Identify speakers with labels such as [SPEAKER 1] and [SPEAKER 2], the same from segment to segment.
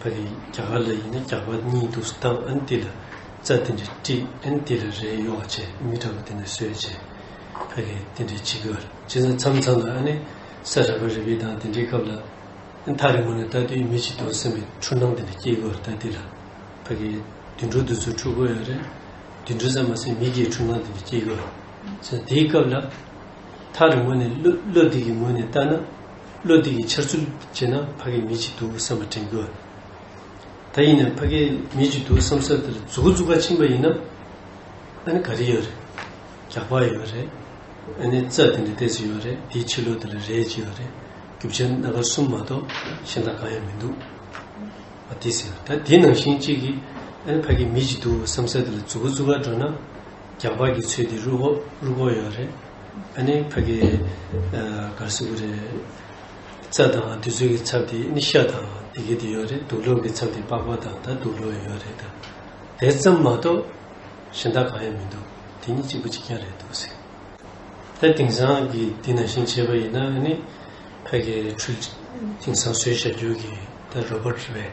[SPEAKER 1] པ་རེད་རྒྱ་གར་ལ་ཡིན་ན་རྒྱག་པ་གཉིས་འདུག་སྟབས་ཨན་ཏི་ལ་རྩ་དེ་འདྲས་དཀྲིས་ཨན་ཏི་ལ་རས་གཡོག་བྱས་མི་འདྲ་པོ་དེ་འདྲ་བཟོས་བྱས་ཕ་རེད་དེ་འདྲས་བྱེད་གི་བྱས་ཙང་མཚམས་མཚམས་ལ་ཨ་ནི་ས་ར་བ་རི་བའི་དང་དེ་འདྲས་སྐབས་ལ་མཐའ་རི་མོ་ནས་ལྟ་དུས་མི་ཅིག་འདུག་སེམས་པའི་འཁྲུལ་སྣང་དེ་འདྲ་སྐྱེས་གི་རེད་ཨན་ཏི་ལ་ཕ་གི་དུད་འགྲོ་འདི་ཚོ་འཁྲུལ་གི་ཡོད་རེད་དུད་འགྲོ་ཙམ་མ་ཟད་མི་སྐྱེས་འཁྲུལ་སྣང་དེ་འདྲ་སྐྱེས་གི་རེད་དེའི་སྐབས་ལ་མཐའ་རི་མོ་ནས་བློ་བློ་འདི་གི་ངོས་ནས་ལྟ་ན། བློ་བདེ་གི་འཆར་ཚུལ་བྱས་ན་ཕ་གི་མི་ཅིག་འདུག་བསམ་པ་དྲན་དགོས། ད་ཡིན་ནའི་ཕ་གི་མི་ཅིག་འདུག་བསམ་ས་དེར་འཛུག་གོ་འཛུག་ག་ཕྱིན་པ་ཡིན་ན། ཨ་ནི་ག་རེ་ཡོད་རེད། རྒྱག་པ་ཡོད་རེད། ཨ་ནི་རྩ་དེ་འདྲ་བལྟས་ཚོད་ཡོད་རེད་དེའི་ཕྱི་ལོ་དེ་ལ་རེད་ཅེས་ཡོད་རེད། རྒྱུ་ཆ་སྣ་ཁ་གསུམ་མ་གཏོགས་གཞན་དག་གང་ཡང་མི་འདུག་བ་དེ་ཟེར། ད་དེའི་ནང་བཞིན་གཅིག་གིས་ཨ་ནི་ཕ་གི་མི་ཅིག་འདུག་བསམ་ས་དེ་ལ་འཛུག་གོ་འཛུག་ག་འགྲོ་ན། རྒྱ་བལ་གྱི་ཚོས་དེ་རུ་ཧོ་རུ་ཀོ་ཡོད་རེད། ཨ་ནི་ཕ་གི་གར་སི་གུ་རེད། རྩ་དང་དུས་ཚོད་ཀྱི་ཚབ་དེ་ནི་ཤ་དང་དེ་གི་དེ་ཡོད་རེད་དུག་ལོག་གི་ཚབ་དེ་པགས་པ་དང་ད་དུག་ལོག་ཡོད་རེད་ད། དེ་ཙམ་མ་གཏོགས་གཞན་དག་གང་ཡང་མི་འདུག་དེ་གཉིས་གཅིག་པོ་གཅིག་རྐྱང་རེད་འདུག་ཟེར། ད་དེང་སང་གི་དེ་ནང་བཞིན་བྱས་པ་ཡིན་ན་ཨ་ནི་ཕ་གི་འཕྲུལ་དེང་སང་བཟོས་བཞག་རྒྱུ་གི་ད་རོ་པོར་རེད།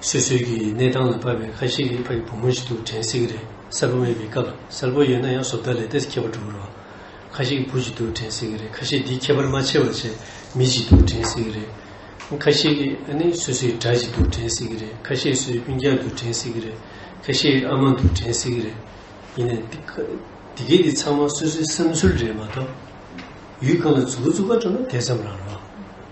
[SPEAKER 1] སོ་སོའི་གི་གནས་སྟངས་ལ་བབས་པའི་ཁ་ཤས་ཀྱི་ཕ་ཡི་བུ་མོ་ཞིག་ཏུ་དྲན་སྲིད་ཀྱི་རེད་གསལ་པོ་མེད་པའི་སྐབས་གསལ་པོ་ཡོད་ན་ཡང་བཟོ་ལྟ་ལས་དེ་ཁྱད་པར་གྲུབ་རོགས། ཁ་ཤས་ཀྱི་བུ་ཞིག་ཏུ་དྲན་སྲིད་ཀྱི་རེད་ཁ་ཤས་འདི་ཁྱད་པར་མ་ཆེ་བ་ཆེ་མི་ཞིག་ཏུ་དྲན་སྲིད་ཀྱི་རེད། ཁ་ཤས་ཀྱི་ཨ་ནི་སོ་སོའི་དགྲ་ཞིག་ཏུ་དྲན་སྲིད་ཀྱི་རེད་ཁ་ཤས་སོའི་སྤུན་རྒྱག་ཏུ་དྲན་སྲིད་ཀྱི་རེད་ཁ་ཤས་ཨ་མ་ཏུ་དྲན་སྲིད་ཀྱི་རེད། ཡིན་ནའི་འདི་ག་འདི་ག་ཚང་མ་སོ་སོའི་བསམ་ཚུལ་རེད་མ་གཏོགས། ཡུལ་གང་ལ་རྫུ་གུ་རྫུ་ག་འགྲོ་ན་དེ་ཙམ་རང་རོགས།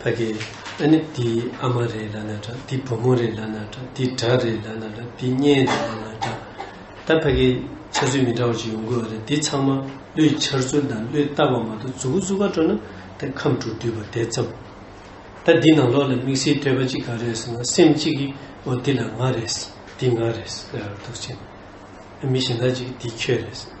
[SPEAKER 1] ཕ་གི་ཨ་ནི་འདི་ཨ་མ་རེད་ལབ་ན་འདྲ་འདི་བུ་མོ་རེད་ལབ་ན་འདྲ་འདི་དགྲ་རེད་ལབ་ན་འདྲ་འདི་གཉེན་རེད་ལབ་ན་འདྲ། ད་ཕ་གི་འཆར་ཚུལ་མི་འདྲ་བ་ཞིག་ཡོང་གི་ཨ་རེད་འདི་ཚང་མ་ཀླུའི་འཆར་ཚུལ་དང་ཀླུའི་ལྟ་བ་མ་གཏོགས་རྫུ་གུ་རྫུ་ག་སྤྲོ་ན་ད་ཁམས་དྲུག་འདུས་པ་དེ་ཙམ། ད་འདི་ནང་ལོགས་ལ་དམིགས་བསལ་ཐོས་པ་ཅིག་ག་རེད་ཟེར་ན་སེམས་གཅིག་གིས་འོ་འདི་ལ་ང་རེད་འདི་ང་རེད་ཟེར་ར་འདུག་ཅེ་ན། མི་གཞན་དག་ཅིག་གིས་འདི་ཁྱོད་རེད་ཟེར།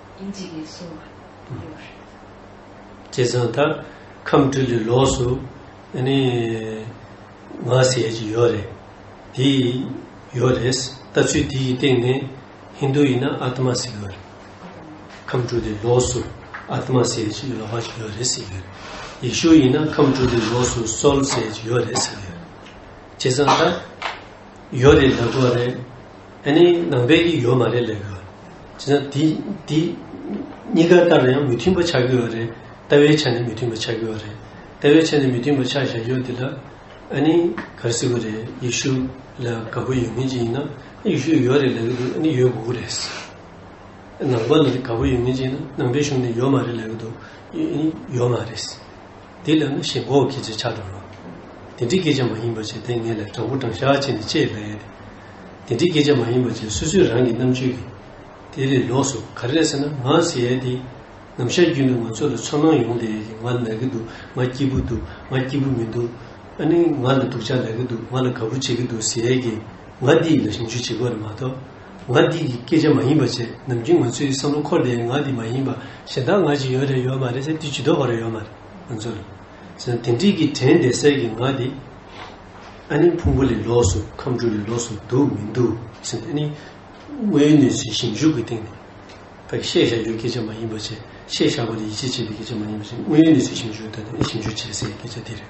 [SPEAKER 2] ཡིན་
[SPEAKER 1] གྱི་རེད་གསུངས་པ་གཡོར། བྱས་ཙང་ད་ཁམས་དྲི་ལི་ལོགས་སུ་ནི་ང་ཟེར་གྱི་ཡོད་རེད། དེ་ཡོད་རེད། ལྟ་ཚུལ་དེ་ཡི་སྟེང་ནས་ཧིན་དུ་ཡིན་ན་ཨ་ཏི་མ་ཟེར་གི་ཡོད་རེད། ཁམས་དྲི་ལི་ལོགས་སུ་ཨ་ཏི་མ་ཟེར་གྱི་ཡོད་ལོག་པ་ཞིག་ཡོད་རེད་ཟེར་གི་ཡོད་རེད། ཡེ་ཤུ་ཡིན་ན་ཁམས་དྲི་ལི་ལོགས་སུ Saul ཟེར་གྱི་ཡོད་རེད་ཟེར་གི་ཡོད་རེད། བྱས་ཙང་ད། ཡོད་རེད་ལབ་དགོས་རེད་ཨ་ནི་ནང་པའི་གི་ཡོད་མ་རེད་ལས་ཀ་བྱས་ན་དེ་དེ་གཉིས་ཀ་ལྟར་ཡང་མི་མཐུན་པ་ཆགས་ཀྱི་ཡོད་རེད་ལྟ་བའི་ཆ་ནས་མི་མཐུན་པ་ཆགས་ཀྱི་ཡོད་རེད་ལྟ་བའི་ཆ་ནས་མི་མཐུན་པ་ཆགས་བཞག་ཡོད་དེ་ལ་ཨ་ནི་གར་སྲིད་གི་རེད་ཡེ་ཤུ་ལ་དགའ་པོ་ཡོད་མཁན་ཅིག་ཡིན་ན་ཡེ་ཤུ་ཡོད་རེད་ལབ་ཀྱི་འདུག་ཨ་ནི་ཡོད་དགོས་ཀྱི་རེད་ཟེར་ནང་པ་ལ་དགའ་པོ་ཡོད་མཁན་ཅིག་ཡིན་ན་ནང་པའི་གཞུང་ནས་ཡོད་མ་རེད་ལབ་ཀྱི་འདུག་ཨ་ནི་ཡོད་མ་རེད་ཟེར། དེ་ལས་ནི་ཞེས་འགོག་གིས་ཅེས་བྱ་སྒྲོ་རོ། དེ་འདྲའི་སྐད་ཅིག་མ་ཡིན་པར་བྱས་ཏེ་ངེས་ལེགས་དྲང་པོ་དྲང་བཞག་བྱས་ནས་དཔྱད་པས། དེ་འདྲའི་སྐད་ཅིག་མ་ཡིན་པར་བྱས་སོ་སོའི་རང་གི་རྣམ་དཔྱོད་ཀྱིས། དེ་ལས་ལོགས་སུ་ག་རེ་རེད་ཟེར་ན་ང་ཟེར་ཡས་དེ། ནམ་ཞར་རྒྱུན་དུ་ང་ཚོ་ལ་ཚོར་སྣང་ཡོང་བསྡད་ཡས་ཀྱི་ང་ལ་ན་གི་འདུག་ང་སྐྱིད་པོ་འདུག་ང་སྐྱིད་པོ་མི་འདུག། ཨ་ནི་ང་ལ་སྡུག་ཅག་ལ་གི་འདུག་ང་ལ་དགའ་པོ་བྱེད་ཀྱི་འདུག་ཟེར་ཡས་ཀྱི་ང་འདི་ཡི་ལ་ཞིབ་འཇུག་བྱེད་དགོས་རེད་མ་གཏོགས། ང་འདི་ཡི་སྐད་ཆ་མ་ཡིན་པ་ཅེས་ནམ་རྒྱུན་ང་ཚོའི་བསམ་བློ་འཁོར་འདས་ང་འདི་མ་ཡིན་པ་གཞན་དག་ང་ཅིག་ཡོད་རེད་ཡོད་མ་རེད་ཟེར་དུས་ཇི་ལྟོ་བ་རེད་ཡོད་མ་རེད་ང་ཚོ་ལ། ཟེར་ན་དེ་འགྲིག་གི་དྲན་བདེ་གསལ་གྱི་ང་འདི། ཨ་ནི་ཕུང་པོ་ལས་ལོགས་སུ་ཁམས་དྲུག་ལས་ལོགས་སུ་འདུག་མི་འདུག་ཟེར་ན་ཨ་ནི། དངོས་ཡོད་གནས་ཚུལ་ཞིབ་འཇུག་གི་སྟེང་ནས། ད་གིས་བཤད་བཞག་རྒྱུའི་སྐད་ཆ་མ་ཡིན་པ་ཅེས་བཤད་བཞག་པ་ལ་ཡིད་ཆེས་བྱེད་པའི་སྐད་ཆ་མ་ཡིན་པ་ཅེས་དངོས་ཡོད་གནས་ཚུལ་ཞིབ་འཇུག་གི་སྟེང་ནས་ཨ་ནི་ཞིབ་འཇུག་བྱེད་སའི་སྐད་ཆ་འདི་རེད།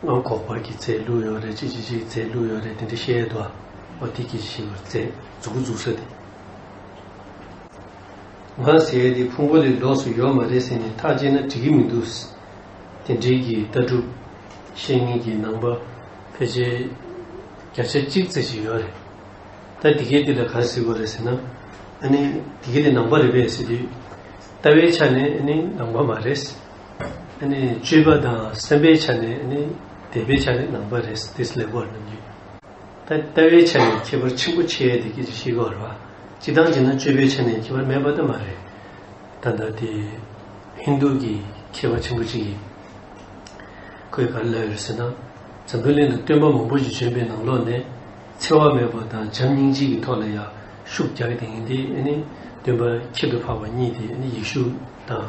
[SPEAKER 2] སྔོན་འགོག་པར་གྱི་ཚེ་ལུས་ཡོད་རེད་
[SPEAKER 1] ཅི་ཅི་ཞིག་ཚེ་ལུས་ཡོད་རེད་དེ་འདྲ་བཤད་འདུག་ཨ་འོ་དེ་གྱིས་ཞིག་བར་ཚེ་འཛུག་གི་འཛུག་ས་དེ། ང་ཟེར་ཡས་དེ་ཕུང་པོ་ལས་ལོགས་སུ་ཡོད་མ་རེད་ཟེར་ནས་ཐག་བཅད་ན་འགྲིག་གི་མི་འདུག། དེ་འབྲེལ་གྱི་ལྟ་གྲུབ་བཤེས་གཉེན་གྱི་ནང་པ་ཕལ་ཆེར་བརྒྱ་ཆ་གཅིག་ཙེ་ཞིག་ཡོད་རེད། ད་འདི་གས་འདི་ལ་གང་ཟེར་དགོས་རེད་ཟེར་ན་ཨ་ནི་འདི་གས་དེ་ནང་པ་རེད་པས་ཟེར་དུས། ལྟ་བའི་ཆ་ནས་ཨ་ནི་ནང་པ་མ་རེད། སྤྱོད་པ་དང་སེམས་པའི་ཆ་ནས་ནི་དད་པའི་ཆ་ནས་ནང་པ་རེད། དེ་སླད་བར་རྣམས་ཀྱི། ལྟ་བའི་ཆ་ནས་ཁྱད་པར་ཆེན་པོ་ཆེ་ཡོད་དེ་སྐད་ཅིག་ཤེས་དགོས་པར་བ། ཅི་སྟངས་ཅི་ན་སྤྱོད་པའི་ཆ་ནས་ཁྱད་པར་མེད་པ་ལྟ་མ་རེད། ད་ལྟ་དེ་ཧིན་རྡུ་གི་མཁས་པ་ཆེན་པོ་གཅིག་གིས། ཁོས་ག་རེ་ལབ་ཡོད་ཟེར་ན། འཛམ་བུའི་གླིང་དུ་སྟོན་པ་མང་པོ་ཞིག་བྱོན་པའི་ནང་ལོགས་ནས། འཚེ་བ་མེད་པ་དང་བྱམས་སྙིང་རྗེ་གི་ཐོག་ལ་ཡར་ཤུགས་རྒྱག་དེ་ཡིན་དེ་ནི་སྟོན་པ་ཁྱད་དུ་འཕགས་པ་གཉིས་དེ་ནི་ཡེ་ཤུ་དང།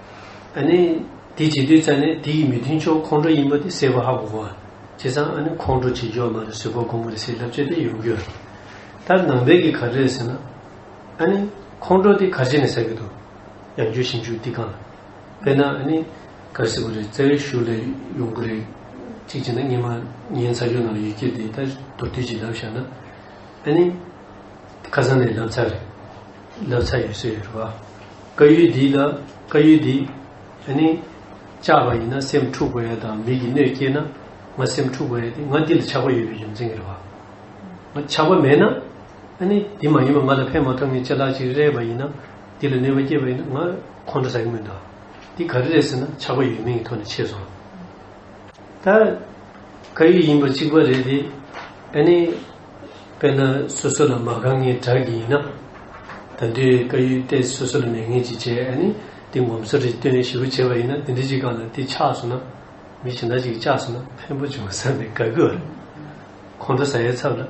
[SPEAKER 1] ཨ་ནི། དེ་བྱེད་དུས་ཙཱ་ནི་དེ་ཡི་མི་མཐུན་ཕྱོགས་ཁོང་ཁྲོ་ཡིན་པ་དེ་སེལ་བ་ཧ་གོ་གོ། བྱས་ཙང་ཨ་ནི་ཁོང་ཁྲོ་བྱེད་རྒྱུ་བ་མ་རེད་བཟོད་པ་སྒོམ་པ་རེད་ཟེར་ལབ་ཆེད་དེ་ཡོང་རྒྱུ་རེད། ད་ནང་པའི་གི་ག་རེད་ཟེར་ན། ཨ་ནི། ཁོང་ཁྲོ་དེ་ག་ཆེ་ནས་ཟ་གི་འདུག། ཡང་རྒྱུ་ཞིབ་འཇུག་འདི་གང། དཔེར་ན་ཨ་ནི། ག་རེ་སེ་གོ་རེད་རྩ་བའི་ཤུགས་ལས་ཡོང་གི་རེད། གཅིག་བྱས་ན་སྙེ་མ་ངའི་ཚ་ཆུ་ནང་ཡོད་ཁྱེད་དེ་ད་མདོར་བསྡུས་ཀྱིས་ལབ་བཞག་ན། ཨ་ནི། ཁ་སང་ནས་ལབ་ཚར་རེད། ལབ་ཚར་ཡོད་ཟེར་ཡོད་རེད་བ། བཀའ་ཡུལ་འདི་ལ་བཀའ་ཡུལ་འདི་ཡང་ནི། བཅག་པ་ཡིན་ན་སེམས་འཁྲུགས་པ་ཡོད་དམ་མིག་གི་སྣོད་སྐྱེས་ན། ང་སེམས་འཁྲུགས་པ་ཡོད་དེ་ང་འདི་ལ་ཆགས་པ་ཡོད་པའི་རྒྱུ་མཚན་གྱིས་རེད་བ། ཆགས་པ་མེད་ན། ཡང་ནི་འདི་མ་ཡིན་པ་ང་ལ་ཕན་མ་ཐོགས་ངས་ཅི་ལགས་ཅིག་རེད་བ་ཡིན་ན། འདི་ལ་ནུས་པ་སྐྱེས་པ་ཡིན་ན་ང་ཁོང་ཁྲོ་ཟ་གི་མི་འདུག་འདི་ག་རེ་རེད་ཟེར་ན་ཆགས་པ་ཡོད་མིན་གྱི་ཐོག་ནས་ཕྱེས་སོང། ད་བཀའ་ཡུལ་ཡིན་པ་གཅིག་པ་རེད་དེ། ཡང་ནི། དཔེར་ན་སོ་སོ་ལ་མ་གང་ངེས་དྲག་གི་ཡིན་ན། ད་དུས་བཀའ་ཡུལ་གཏད་སོ་སོ་ལ་མེད་ངེས་ཅི་བྱེད་ཨ་ནི་འདི་ངོམ་སོ་རེད་སྟོན་ཞིབ་པོ་བྱེད་པ་ཡིན་ན་འདི་འདི་ཅིག་གང་ལ་འདི་ཆགས་སོང་ན་མི་གཞན་དག་ཅིག་བཅགས་སོང་ན་ཕན་པོ་འབྱུང་བསམ་པའི་དགའ་གུ་རེད། ཁོང་ཁྲོ་ཟ་ཡའི་ཚབ་ལ་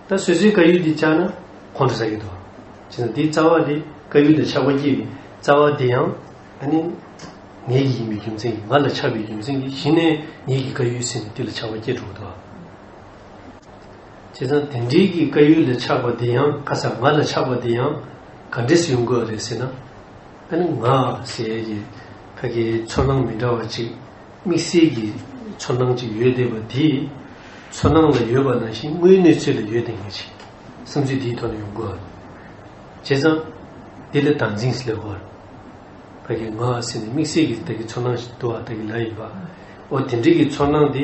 [SPEAKER 1] ད་སོ་སོའི་བཀའ་ཡུལ་འདི་བཅགས་ན་ཁོང་ཁྲོ་ཟ་གི་འདུག་བྱས་ན་འདིའི་རྩ་བ་འདི་བཀའ་ཡུལ་དང་ཆགས་པ་སྐྱེས་པའི་རྩ་བ་འདི་ཡང་ཨ་ནི་ངེད་ཀྱི་ཡིན་པའི་རྒྱུ་མཚན་གྱིས་ང་ལ་ཆགས་པའི་རྒྱུ་མཚན་གྱིས་གཞི་ནས་ངེད་ཀྱི་བཀའ་ཡུལ་ཟིན་ནས་འདི་ལ་ཆགས་པ་སྐྱེས་འགྲོ་གི་འདུག་ཨ། བྱས་ཙང་དེ་འདྲིའི་གི་བཀའ་ཡུལ་ལ་ཆགས་པ་དེ་ཡང་ཁ་ཚ་ང་ལ་ཆགས་པ་དེ་ཡང་ག་འདྲིས་ཡོང་དགོས་རེད་ཟེར་ན། ཨ་ནི་ང་ཟེར་ཡས་ཀྱི་ཁ་ཁའི་ཚོར་སྣང་མི་འདྲ་བ་གཅིག་དམིགས་བསལ་གྱི་ཚོར་སྣང་གཅིག་ཡོད་བསྡད་པ་དེ་ཚོར་སྣང་ལ་ཡོད་པ་ནང་བཞིན་དངོས་གནས་ཚོད་ལ་ཡོད་བསྡད་ངེས་ཅིག་བསམ་ཚུལ་དེའི་ཐོག་ནས་ཡོང་དགོས་རེད། བྱས་ཙང་འདི་ལ་དང་འཛིངས་སུ་སླེབས་དགོས་རེད། ཁ་ཁའི་ང་ཟེར་ནས་དམིགས་བསལ་གྱི་ད་གི་ཚོར་སྣང་ཞིག་འདུ་བ་ད་གི་ལ་ཡིན་པ་འོ་དེ་འདྲིའི་གི་ཚོར་སྣང་དེ།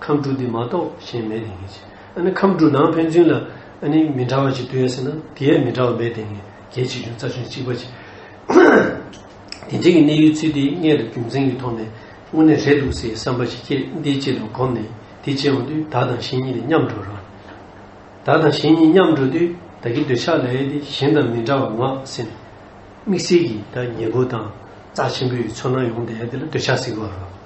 [SPEAKER 1] ཁམས་དྲུག་འདི་མ་གཏོགས་གཞན་མེད་དེ་ངེས། ཨ་ནི་ཁམས་དྲུག་ནང་ཕན་ཚུན་ལ་ཨ་ནི་མི་འདྲ་བ་ཅིག་ལྟོས་ཡོད་ཟེར་ན་དེ་ཡས་མི་འདྲ་བ་མེད་དེ་ངེས་གལ་ཆེ་ཆུང་རྩ་ཆུང་གཅིག་པ་ཅིག་དེ་འབྲེལ་གྱི་གནས་ཡུལ་ཚུལ་དེའི་མངལ་དུ་རྒྱུ་མཚན་གྱི་ཐོག་ནས་དངོས་གནས་རེད་འདུག་སའི་བསམ་པ་ཞིག་སྐྱེས་འདི་ཅི་ལ་གོམས་ནས་དེ་བྱེད་འོང་དུས་བདག་དང་གཞན་གཉིས་ལས་མཉམ་འགྲོ་རུང། བདག་དང་གཞན་གཉིས་མཉམ་འགྲོ་དུས་བདག་གི་འདོད་ཆགས་ལ་ཡས་དེ་གཞན་དང་མི་འདྲ་བ་ངག་སེམས། དམིགས་བསལ་གྱིས་བདག་ཉེ་པོ་དང་རྩ་ཆེན་པོའི་ཚོར་སྣང་ཡོང་དེ་ཡས་དེ་ལ་འདོད་ཆགས་ཟེར་གི་བ་རུང།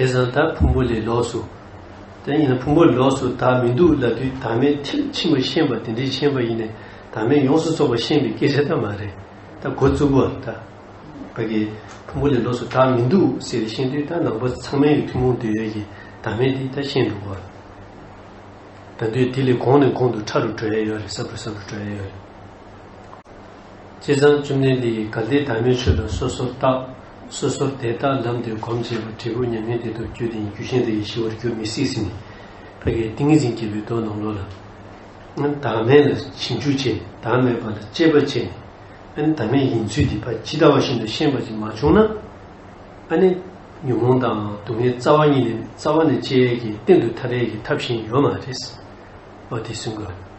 [SPEAKER 1] དེ་བཟང་ད་ཕུང་པོ་ལས་ལོགས་སུ། དེ་ཡིན་ན་ཕུང་པོ་ལོགས་སུ་ད་མི་འདུག་ལབ་དུས་དྭངས་མའི་ཐིག་ཕྱི་མ་ཤེས་པ་དེ་འདྲའི་ཤེས་པ་ཡིན་ནས་དྭངས་མས་ཡོངས་སུ་རྫོགས་པ་ཤེས་པའི་སྐད་ཆ་ད་མ་རེད་ད་གོ་བཙུགས་པ་ད། བོད་ཀྱི། ཕུང་པོ་ལས་ལོགས་སུ་ད་མི་འདུག་ཟེར་བཞིན་དུས་ད་ནང་པ་ཚང་མའི་ཐུན་མོང་འདོད་ཡོན་གྱི་དྭངས་མས་དེ་ད་ཤེས་འདུག་བ། ད་འདོད་དེ་ལས་གོང་ནས་གོང་དུ་ཕྲ་རུ་འགྲོ་ཡས་ཡོད་རེད་ཟབ་རུ་ཟབ་རུ་འགྲོ་ཡས་ཡོད་རེད། སྤྱི་བསང་བཅུ་གནས་འདི་ཡིས་གལ་ཏེ་བདག་མེད་ཆོས་དང་སོ་སོར་བརྟགས། སོ་སོར་དེ་བརྟགས་ལམ་དེ་གོམས་བྱས་པ་འབྲས་བུ་མྱ་ངན་འདས་དུ་བསྐྱོད་དེ་ཉིད་རྒྱུ་གཞན་དུ་ཡེ་ཤེས་བར་འགྱུར་མི་སྲིད་ཟིན་ནས། བྷ་གའི་ཏིང་ངེ་འཛིན་སྐྱེས་པའི་མདོ་ནང་ལོགས་ལ། བདག་མེད་ལ་བྱིང་ཆུབ་ཆེ་བདག་མེད་པ་ལ་སྤྱད་པ་ཆེ། བདག་མེད་ཡིན་ཚུལ་འདི་བ་ཇི་ལྟ་བ་བཞིན་དུ་ཤེས་པ་ཅིག་མ་བྱུང་ན། ནི། ཉོན་མོངས་དང་སྡུག་བསྔལ་རྩ་བ་ཉིད་ནས་རྩ་བ་ནས་བཅད་ཡས་ཀྱི་སྟེང་དུ་མཐའ་བྲལ་གྱི་ཐབས་གཞན་ཡོད་མ་རེད། བ་དེ་བསྲུང་དགོས།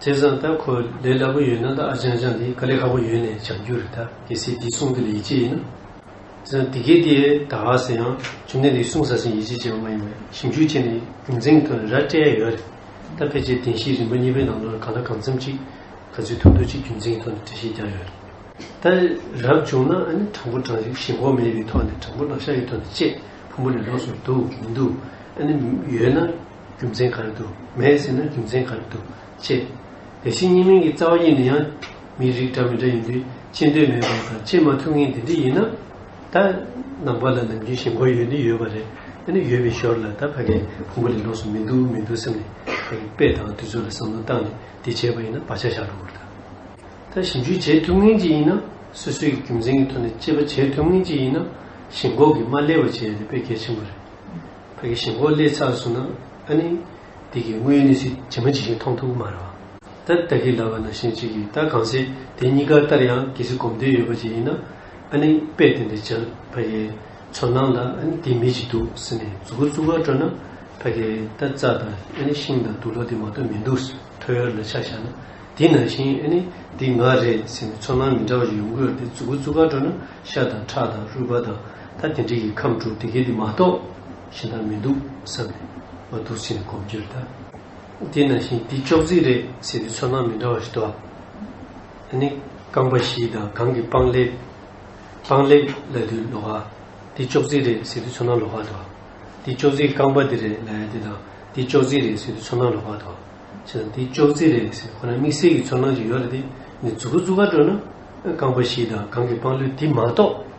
[SPEAKER 1] དེ་བཟང་ད་ཁོ་ལས་སླ་པོ་ཡོད་ན་ད་ཨ་ཅང་ཅང་འདི་ཀ་ལས་ཁག་པོ་ཡོད་ནས་བྱ་རྒྱུ་རེད་ད་གལ་སྲིད་འདི་གསུང་རྒྱུ་ལ་ཡིད་ཆེས་ཡིན་ན། དེ་བཟང་དེ་གལ་ཏེ་ད་ག་ཟེར་ཡང་བྱུང་ནས་འདི་གསུང་ཟ་ཟིན་ཡིད་ཆེས་བྱེད་པ་མ་ཡིན་པར་ཞིབ་འཇུག་བྱས་ནས་རྒྱུ་མཚན་གང་རེད་ར་སྤྲད་ཡ་ཡོད་རེད་ད་ཕལ་ཆེར་བདེན་བཞིའི་རིམ་པ་གཉིས་པའི་ནང་དུ་གང་ལ་གང་འཚམ་ཅིག་ག་ཚོད་ཐུག་ཐུག་ཅིག་རྒྱུ་མཚན་ཐོག་ནས་འགྲེལ་བཤད་རྒྱག་ཡོད་རེད་ད། རབ་བྱུང་ན་ཨ་ནི་དྲང་པོ་དྲང་ཞིག་ཞེན་ཁོག་མེད་པའི་ཐོག་ནས་དྲང་པོ་ལག་ཤ་ཡོད་ཐོག་ནས་བཅད་ཕུང་པོ་ལས་ལོགས་སུ་འདུག་མི་འདུག་ཨ་ནི་ཡོད་ན། རྒྱུ་མཚན་ག་རེ་འདུག་མེད་ཟེར་ན་རྒྱུ་མཚན་ག་རེ་འདུག་ཅེས། དེ་བཞིན་གཉིས་མིང་གི་རྩ་བ་གཉིས་ནི་ཡང་མིའི་རིགས་འདྲ་མི་འདྲ་ཡིན་དུས་ཅི་འདོད་མེད་པ་དང་ཅི་མ་ཐུབ་ངེས་དེ་འདྲས་ཡིན་ན། ད་ནང་པ་ལ་ནམ་རྒྱུན་ཞེན་ཁོག་ཡོད་ནི་ཡོད་པ་རེད། ཨ་ནི་ཡོད་པའི་ཞོར་ལ་ད་ཕ་གའི་ཕུང་པོ་ལས་ལོགས་སུ་མི་འདུག་མི་འདུག་བསམ་ནས་དཔེ་དང་དུས་ཚོད་ལ་བསམ་བློ་བཏང་ནས་འདི་བྱས་པ་ཡིན་ན་བག་ཆགས་བཞག་རོགས་གྱིས། ད་ཞིབ་འཇུག་བྱེད་ཐུབ་ངེས་ཅིག་ཡིན་ན་སོ་སོའི་རྒྱུ་མཚན་གྱི་ཐོག་ནས་དཔྱད་པ་བྱེད་ཐུབ་ངེས་ཅིག་ཡིན་ན་ཞེན་ཁོག་གིས་མ་བསླད་པ་བྱས་ཡོད་ན་དཔེ་གལ་ཆེན་པོ་རེད། བོད་ཀྱི་ཞིང་འཁོར་བསླས་ཚར་གསུངས་ན་ཨ་ནི། དེ་གི་དངོས་ཡོད་གནས་ཚུལ་ཇི་མ་ཇི་བཞིན་མཐོང་ཐུབ་མ་རེད་བ། ད་ལྟ་གི་ལབ་པ་ན་ཤེས་བྱེད་ཀྱི་ད་གང་ཟེར་དེ་གཉིས་ཀ་ལྟར་ཡང་གལ་སྲིད་གོམས་འདོད་ཡོད་པ་ཅིག་ཡིན་ན་ཨ་ནི་དཔེ་དེ་འདྲ་འཇལ་ཕ་གིའི་ཚོར་སྣང་ལ་ཨ་ནི་དེ་མི་ཅིག་འདུག་ཟེར་ནས་རྫུ་གུ་རྩུབ་བར་སྤྲོ་ན་ཕ་གིའི་ད་རྩ་དང་ཨ་ནི་ཤིང་དང་དུག་ལོ་དེ་མ་གཏོགས་མི་འདུག་ཟེར་ཐོ་ཡོར་ལ་ཆ་བཞག་ན་དེ་ནང་བཞིན་ཨ་ནི་འདི་ང་རེད་ཟེར་ནས་ཚོར་སྣང་མི་འདྲ་བ་ཞིག་ཡོང་གི་རེད་དེ་རྫུ་གུ་རྩུབ་བར་སྤྲོ་ན་ཤ་དང་ཁྲག་དང་རུས་པ་དང། ད་དེ་འདྲའི་ཡིད་ཁམས་དྲུག་དེ་གས་དེ་མ་གཏོགས་གཞན་དག་མི་འདུག་བསམ་ནས་ང་དུར་ཆེན་གོམ་བགྱིར་བལྟ། དེ་ན་བཞིན་དེ་ཅོག་ཙེ་རེད་ཟེར་དུས་ཚོར་སྣང་མི་འདྲ་བ་ཞིག་དོགས། ད་ནི་རྐང་པ་བཞི་དང་གང་གི་པང་ལེབ། པང་ལེབ་ལ་དུས་ལོག་ཨ། དེ་ཅོག་ཙེ་རེད་ཟེར་དུས་ཚོར་སྣང་ལོག་ཨ་དོགས། དེ་ཅོག་ཙེའི་རྐང་པ་དེ་རེད་ལ་ཡ་དེ་དང་དེ་ཅོག་ཙེ་རེད་ཟེར་དུས་ཚོར་སྣང་ལོག་ཨ་དོགས། བྱས་ཙང་དེ་ཅོག་ཙེ་རེད་ཟེར་ཁོ་ན་དམིགས་བསལ་གྱི་ཚོར་སྣང་ཅིག་ཡོད་ལ་དེ་ནི་རྫུ་གུ་རྫུ་གར་སྤྲོ་ན། རྐང་པ་བཞི་དང་གང་གི་པང་ལེབ་དེ་མ་གཏོགས་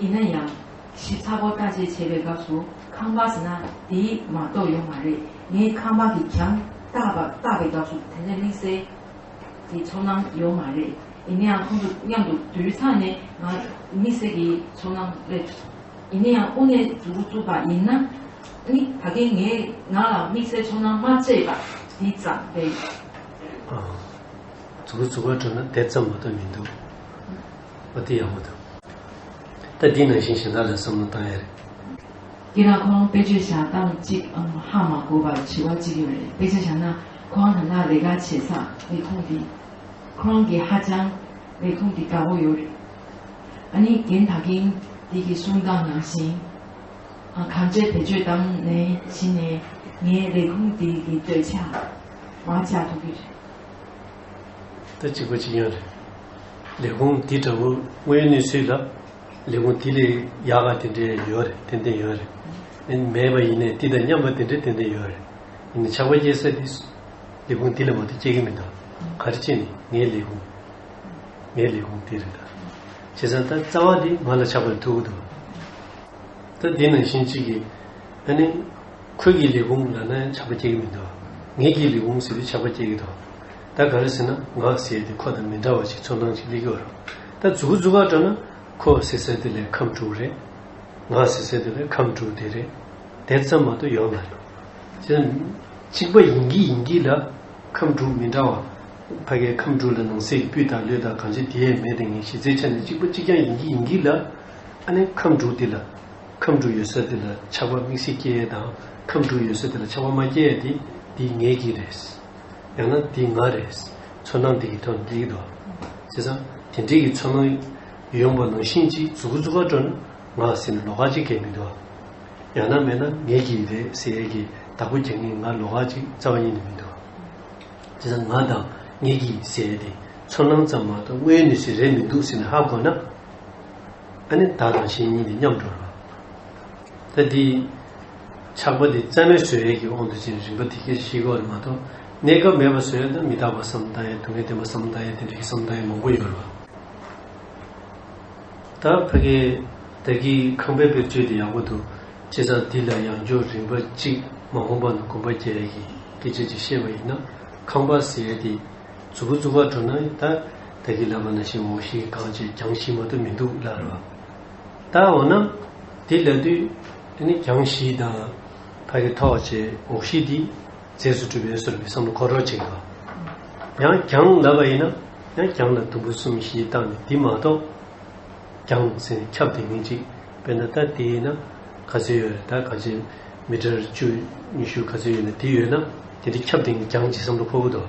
[SPEAKER 2] ཡིན་ན་ཡང། ཞིབ་ཚགས་པོ་བལྟ་བྱེད་བྱེད་པའི་སྐབས་སུ་ཁང་པ་ཟེར་ན་དེའི་མ་གཏོགས་ཡོད་མ་རེད། ངས་ཁང་པ་གི་གྱང་བཏགས་པ་བལྟ་བའི་སྐབས་སུ་དེ་འདྲའི་དམིགས་བསལ་གྱི་ཚོར་སྣང་ཡོད་མ་རེད། ཡིན་ན་ཡང་ཁོང་ཚོ་མཉམ་དུ་དུས་ཚང་ནས་ང་དམིགས་བསལ་གྱི་ཚོར་སྣང་སླེབས། ཡིན་ན་ཡང་དབུ་ནས་འཛུགས་འགོ་བཙུགས་པ་ཡིན་ན་ནི་ད་གིན་ངས་ང་ལ་དམིགས་བསལ་ཚོར་སྣང་མ་སྐྱེས་པ་དེ་ཙམ་རེད། འཛུགས་འགོ་བཙུགས་
[SPEAKER 1] པ་དྲུག་ན་དེ་ཙམ་མ་གཏོགས་མི་འདུག། ཨོ་དེ་ཡག་པོ་འདུག། ད་འདི་ནང་བཞིན་གཞན་དག་ལ་བསམ་བློ་བཏང་ཡ་རེད། ཀྱེ་ན་ཁོང་དཔེ་བརྗོད་བྱ་སྟངས་གཅིག་ཨང་ཧ་མ་གོ་བར་དྲི་བ་གཅིག་ཡོད་རེད་དཔེ་བརྗོད་བྱ་ན་
[SPEAKER 2] ཁོང་རང་ན་རེ་ག་བྱེད་ས་མི་ཁུང་དེ་ཁོང་གི་ཧ་ཅང་མི་ཁུང་དེ་དགའ་བོ་ཡོད་རེད་ཨ་ནི་རྒན་ད་གིན་དེ་གི་གསུང་སྟངས་ནང་བཞིན་ཨང་གང་བྱེད་བེད་སྤྱོད་སྟངས་ནས་བྱིན་ནས་ངའི་རེ་ཁུང་དེ་གི་འདོད་ཆགས་མ་བྱ་ཐུབ་གི་རེད། ད་གཅིག་པ་གཅིག་ཡང་རེད། ལས་ཁུངས་འདི་འདྲ་བོ་
[SPEAKER 1] དངོས་ཡོད་གནས་ཚུལ་ལ་ལས་ཁུངས་དེ་ལས་ཡག་ག་དེ་འདྲས་ཡོད་རེད་ཏན་ཏན་ཡོད་རེད། མེད་པ་ཡིན་ནས་དེ་དང་མཉམ་པ་དེ་འདྲས་ཏན་ཏན་ཡོད་རེད། ཡིན་ནས་ཆགས་པ་སྐྱེ་ས་དེ་ལས་ཁུངས་དེ་ལས་མ་གཏོགས་སྐྱེ་གི་མི་འདུག་ག་རེ་ཅེ་ནས་ངའི་ལས་ཁུངས་ངའི་ལས་ཁུངས་དེ་རེད་ད། བྱས་ཙང་ད་རྩ་བ་དེ་ང་ལ་ཆགས་པ་ལས་ཐུག་གི་འདུག་ག། ད་འདི་ནང་བཞིན་གཅིག་གིས་ཨ་ནི། ཁོད་ཀྱི་ལས་བུམ་ལ་ན་ཡང་ཆགས་པ་སྐྱེ་གི་མི་འདུག་ངེད་ཀྱི་ལས་བུམ་ཟེར་བས་ཆགས་པ་སྐྱེ་གི་འདུག་ད་ག་རེ་ཟེར་ན་ངག་ཟེར་དེ་ཁོ་དང་མི་འདྲ་བ་ཞིག་ཚོན་མདངས་ཅིག་སླེ་གི་འོ་རོག་ད་རྫུ་གུ་རྫུ་གར་སྤྲོ་ན་ཁོ་ཟེར་ཟེར་དེ་ལས་ཁམས་དྲུག་རེད། ངག་ཟེར་ཟེར་དེ་ལས་ཁམས་དྲུག་དེ་རེད། དེ་ཙམ་མ་གཏོགས་ཡོད་མ་རེད། ཅི་ན་གཅིག་པ་ཡིན་གྱི་ཡིན་གྱི་ལ་ཁམས་དྲུག་མི་འདྲ་བ། ཕ་གའི་ཁམས་དྲུག་ལ་ནང་གསེས་ཀྱི་སྤུས་དག་ལུས་དག་གང་ཅི་དེ་ཡས་མས་དེ་ངས་གཞི་རྩའི་ཆ་ནས་གཅིག་པ་གཅིག་རྐྱང་ཡིན་གྱི་ཡིན་གྱི་ལ། ཨ་ནི་ཁམས་དྲུག་དེ་ལ། ཁམས་དྲུག་ཡོད་སར་དེ་ལ་ཆགས་པ་མིག་སེར་སྐྱེ་ཡས་དང་ཁམས་དྲུག་ཡོད་སར་དེ་ལ་ཆགས་པ་མ་སྐྱེ་ཡས་དེ་འདི་ངའི་གིས་རེད། ཡང་ན་འདི་ང་རེད། ཚོར་སྣང་འདི་གིས་ཐོན་རེད་དོ། བྱས་ཙང་དེ་འདྲས་ཀྱི་ཚོར་སྣང་ཡོང་པ་ནང་བཞིན་གཅིག་ཟུག་གཟུགས་ཁ་དྲོ་ན་ང་ཟེར་ནས་ལོག་ཁ་ཅིག་གས་མི་འདུག་ཨ། ཡང་ན་མེད་ན་ངའི་གིས་རེད་ཟེར་ཡས་ཀྱི་བདག་པོ་རྒྱག་ངེས་ང་ལོག་ཁ་ཅིག་རྩ་བ་ཉིད་ནས་མི་འདུག་བྱས་ཙང་ང་དང་ངའི་གིས་ཟེར་ཡས་དེ་ཚོར་སྣང་ཙམ་མ་གཏོགས་དངོས་ཡོད་ནུས་ཚོད་རེད་མི་འདུག་ཟེར་ནས་ཧ་གོ་ན། ཨ་ནི་བདག་དང་གཞན་གཉིས་ནི་མཉམ་འགྲོར་བ། ད་དེ། ཆགས་པ་འདི་རྩལ་མེད་བཟོད་ཡས་ཀྱི་དབང་དུ་བྱས་ནས་རིམ་པ་འདི་སྐད་ཅེས་ཤེས་དགོས་པ་ནི་མ་གཏོགས་གནས་སྐབས་མེད་པར་བཟོད་ཡས་དང་མི་རྟག་པ་སམ་བདག་ཡས་དུག་ལྔས་བརྟེན་པ་སམ་བདག་ཡས་དེ་འདྲ་ཡིན་སམ་བདག་ཡས་མང་པོ་ཡོད་རེད་བ། ད་ཕ་གི། བདག་གིས་ཁང་པའི་དཔེར་བརྗོད་འདི་ཡག་པོ་འདུག་སྤྱིར་བཏང་འདི་ལ་ཡང་འཇོག་རིམ་པ་གཅིག་མ་དགོངས་པ་ན་དགོངས་པ་བརྒྱད་ཡས་ཀྱི་སྐད་ཅེས་ཅིག་བཤད་པ་ཡིན་ན་ཁང་པ་ཟེར་ཡས་དེ། རྫུ་བུ་རྫུ་བར་འགྲོ་ན་ད། དེ་གི་ལ་མ་ན་ཤི་མོ་ཤི་གང་བྱེད་གྱང་ཤི་མ་ཏུ་མི་འདུག་ལ་རོ། ད་འོ་ན་དེ་ལ་དུས་དེ་ནི་གྱང་ཤི་དང་ཕ་གི་ཐོག་བྱེད་འོག་ཤི་དེ་རྫས་སུ་གྲུབ་པས་སོར་བུའི་བསམ་བློ་འཁོར་རོ་བྱེད་དགོས། ཡང་གྱང་ལ་བ་ཡིན་ན་ཡང་གྱང་ལ་དུམ་བུ་གསུམ་ཤི་བཏགས་ནས་དེ་མ་གཏོགས་གྱང་ཟེར་ནས་ཁྱབ་དེ་མིན་ཅིག་དཔེར་ན་ད་དེ་ཡིན་ན་ག་ཚོད་ཡོད་རེད་ད་ག་བྱེད་མི་དྲར་བཅུ་ཉི་ཤུ་ག་ཚོད་ཡོད་ན་དེ་ཡོད་ན་དེ་འདྲ་ཁྱབ་དེ་ནི་གྱང་གྱི་བསམ་བློ་འཁོར་གི་འདུག།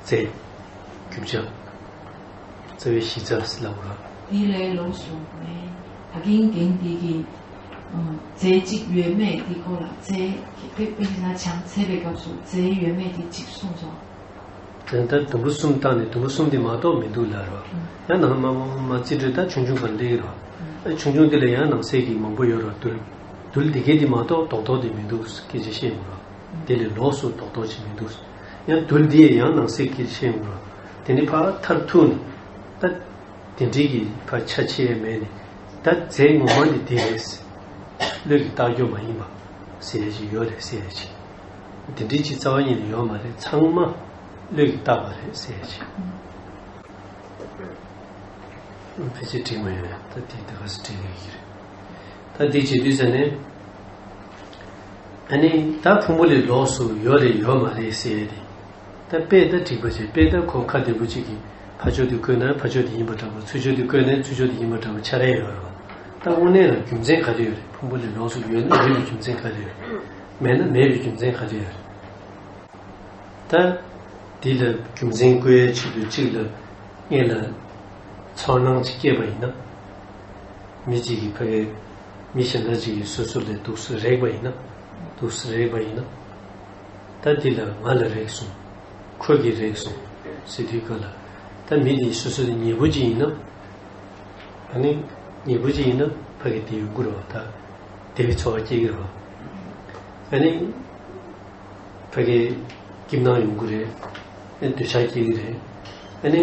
[SPEAKER 1] རྩལ། རྒྱུ་བྱ། རྩ་བའི་གཞི་རྩ་སྲིད་ལ་དབུལ་བ། དེ་ལས་ལོགས་སུ་མེད། ད་གིན་
[SPEAKER 2] གིན་འདི་གི། རྩལ་གཅིག་ཡོད་མེད་འདི་ཀོ་ལ་རྩལ། དཔེ་དཔེ་ན་བྱང་ཚད་པའི་སྐབས་སུ་རྩལ་ཡོད་མེད་འདི་གཅིག་གསུངས་སོ། དོན་དག་དུམ་བུ་གསུམ་བཏགས་ནས་དུམ་བུ་གསུམ་དེ་མ་གཏོགས་མི་
[SPEAKER 1] འདུག་ལ་རོ། ཡང་ནང་མ་མ་རྩིས་འགྲོས་ལྟར་ཆུང་ཆུང་བར་སླེའི་རོ། ཨ་ཆུང་ཆུང་དེ་ལ་ཡང་ནང་གསེས་ཀྱི་མང་པོ་ཡོད་རོ་བརྟུལ། བརྟུལ་འདི་གའི་འདི་མ་གཏོགས་དོག་དོག་དེ་མི་འདུག་སྐད་ཆ་བཤད་མི་རོ། དེ་ལས་ལོགས་སུ་དོག་དོག་ཅིག་མི་འདུག། ཡང་དུར་འདི་ཡི་ཡང་ནང་གསེས་ཀྱི་ཕྱེད་ངོ། དེ་ནི་ཕག་མཐར་ཐུག་ནི། ད་དེ་འབྲིང་གི་ཕག་ཆ་ཕྱེད་མས་ནི། ད་རྫས་ངོ་མ་ནི་འདི་རེད། བློས་ཀྱི་རྟགས་ཀྱོ་མ་ཡིན་པ། ཟེར་ཡས་ཀྱི་ཡོ་རེད་ཟེར་ཡས་ཀྱི། དེ་འབྲིང་གཅིག་རྩ་བ་གཉིས་ནི་ཡོ་མ་རེད་ཚང་མ། བློས་ཀྱི་རྟགས་པ་རེད་ཟེར་ཡས་ཀྱི། ཕལ་ཆེར་འབྲིང་མ་ཡོད་ཡང་ད་དེ་འདི་ག་སོ་འབྲིང་ཡོད་ཀྱི་རེད། ད་འདི་བྱེད་དུས་ཟེར་ནས། ཨ་ནི་ད་ཕུང་པོ་ལས་ལོགས་སུ་ཡོད་རེད་ཡོད་མ་རེད་ཟེར་ཡས་དེ། ད་དཔེ་ད་འགྲིག་པ་བྱས་དཔེ་ད་ཁོ་ཁ་བདེ་པོ་གཅིག་གིས་ཕ་ཕྱོགས་དེ་བཀོད་ན་ཕ་ཕྱོགས་དེ་ཡིན་པ་འདྲ་བོ་ཚུལ་ཕྱོགས་དེ་བཀོད་ནས་ཚུལ་ཕྱོགས་དེ་ཡིན་པ་འདྲ་བོ་ཆགས་རན་ཡོད་རེད་བ། ད་དངོས་གནས་ལ་རྒྱུ་མཚན་ག་རེ་ཡོད་རེད་ཕུང་པོ་ལས་ལོགས་སུ་ཡོད་ན་ཡོད་པའི་རྒྱུ་མཚན་ག་རེ་ཡོད་རེད། མེད་ན་མེད་པའི་རྒྱུ་མཚན་ག་རེ་ཡོད་རེད། ད་འདི་ལ་རྒྱུ་མཚན་བཀོད་ཡས་ཆེད་དུ་གཅིག་ལ་དངོས་ལ་ཚོར་སྣང་གཅིག་སྐྱེས་པ་ཡིན་ན། མི་གཅིག་གིས་ཕ་གི་མི་གཞན་ལྟར་གཅིག་གིས་སོ་སོ་ལས་སྡུག་ས་རེག་པ་ཡིན་ན། སྡུག་ས་རེག་པ་ཡིན་ན། ད་འདི་ལ་ང་ལ་རེག་སོང། ཁོས་ཀྱིས་རེག་སོང། ཟེར་དུས་ག་ལ། ད་མི་འདི་སོ་སོ་ནས་ཉེས་པོ་གཅིག་ཡིན་ན། ད་ནི་ཉེས་པོ་གཅིག་ཡིན་ན་ཕ་གི་དེའི་མགུར་བ་ད་དེ་བས་ཚོར་བ་སྐྱེ་གི་རོགས། ད་ནི་ཕ་གི་སྐྱིབས་སྣང་ཡོང་གི་རེད། ད་ནི་འདོད་ཆགས་སྐྱེ་གི་རེད། ད་ནི།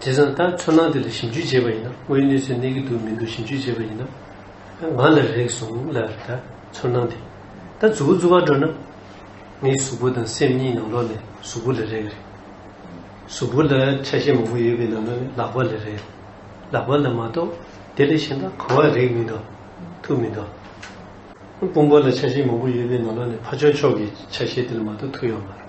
[SPEAKER 1] དེ་བཟང་ད་ཚོར་སྣང་དེ་ལ་ཞིབ་འཇུག་བྱས་པ་ཡིན་ན་དངོས་གནས་ཚོད་གནས་ཀྱི་འདུག་མི་འདུག་ཞིབ་འཇུག་བྱས་པ་ཡིན་ན། ང་ལ་རེག་སོང་ལ་ད་ཚོར་སྣང་དེ། ད་གཟུགས་པོ་བརྫུ་བར་འགྲོ་ན། ངའི་གཟུགས་པོ་དང་སེམས་གཉིས་ནང་ལོགས་ནས་གཟུགས་པོ་ལ་རེག་རེག། གཟུགས་པོ་ལ་ཆ་ཤས་མང་པོ་ཡོད་པའི་ནང་ལོགས་ནས་ལག་པ་ལ་རེག་རེག། ལག་པ་ལ་མ་གཏོགས་དེ་ལས་གཞན་ད་གོ་བར་རེག་མི་འདུག་ཐུག་མི་འདུག། དཔུང་པོ་ལ་ཆ་ཤས་མང་པོ་ཡོད་པའི་ནང་ལོགས་ནས་ཕ་ཆོག་ཆོག་གི་ཆ་ཤས་དེ་ལ་མ་གཏོགས་ཐུག་ཡོད་མ་རེད།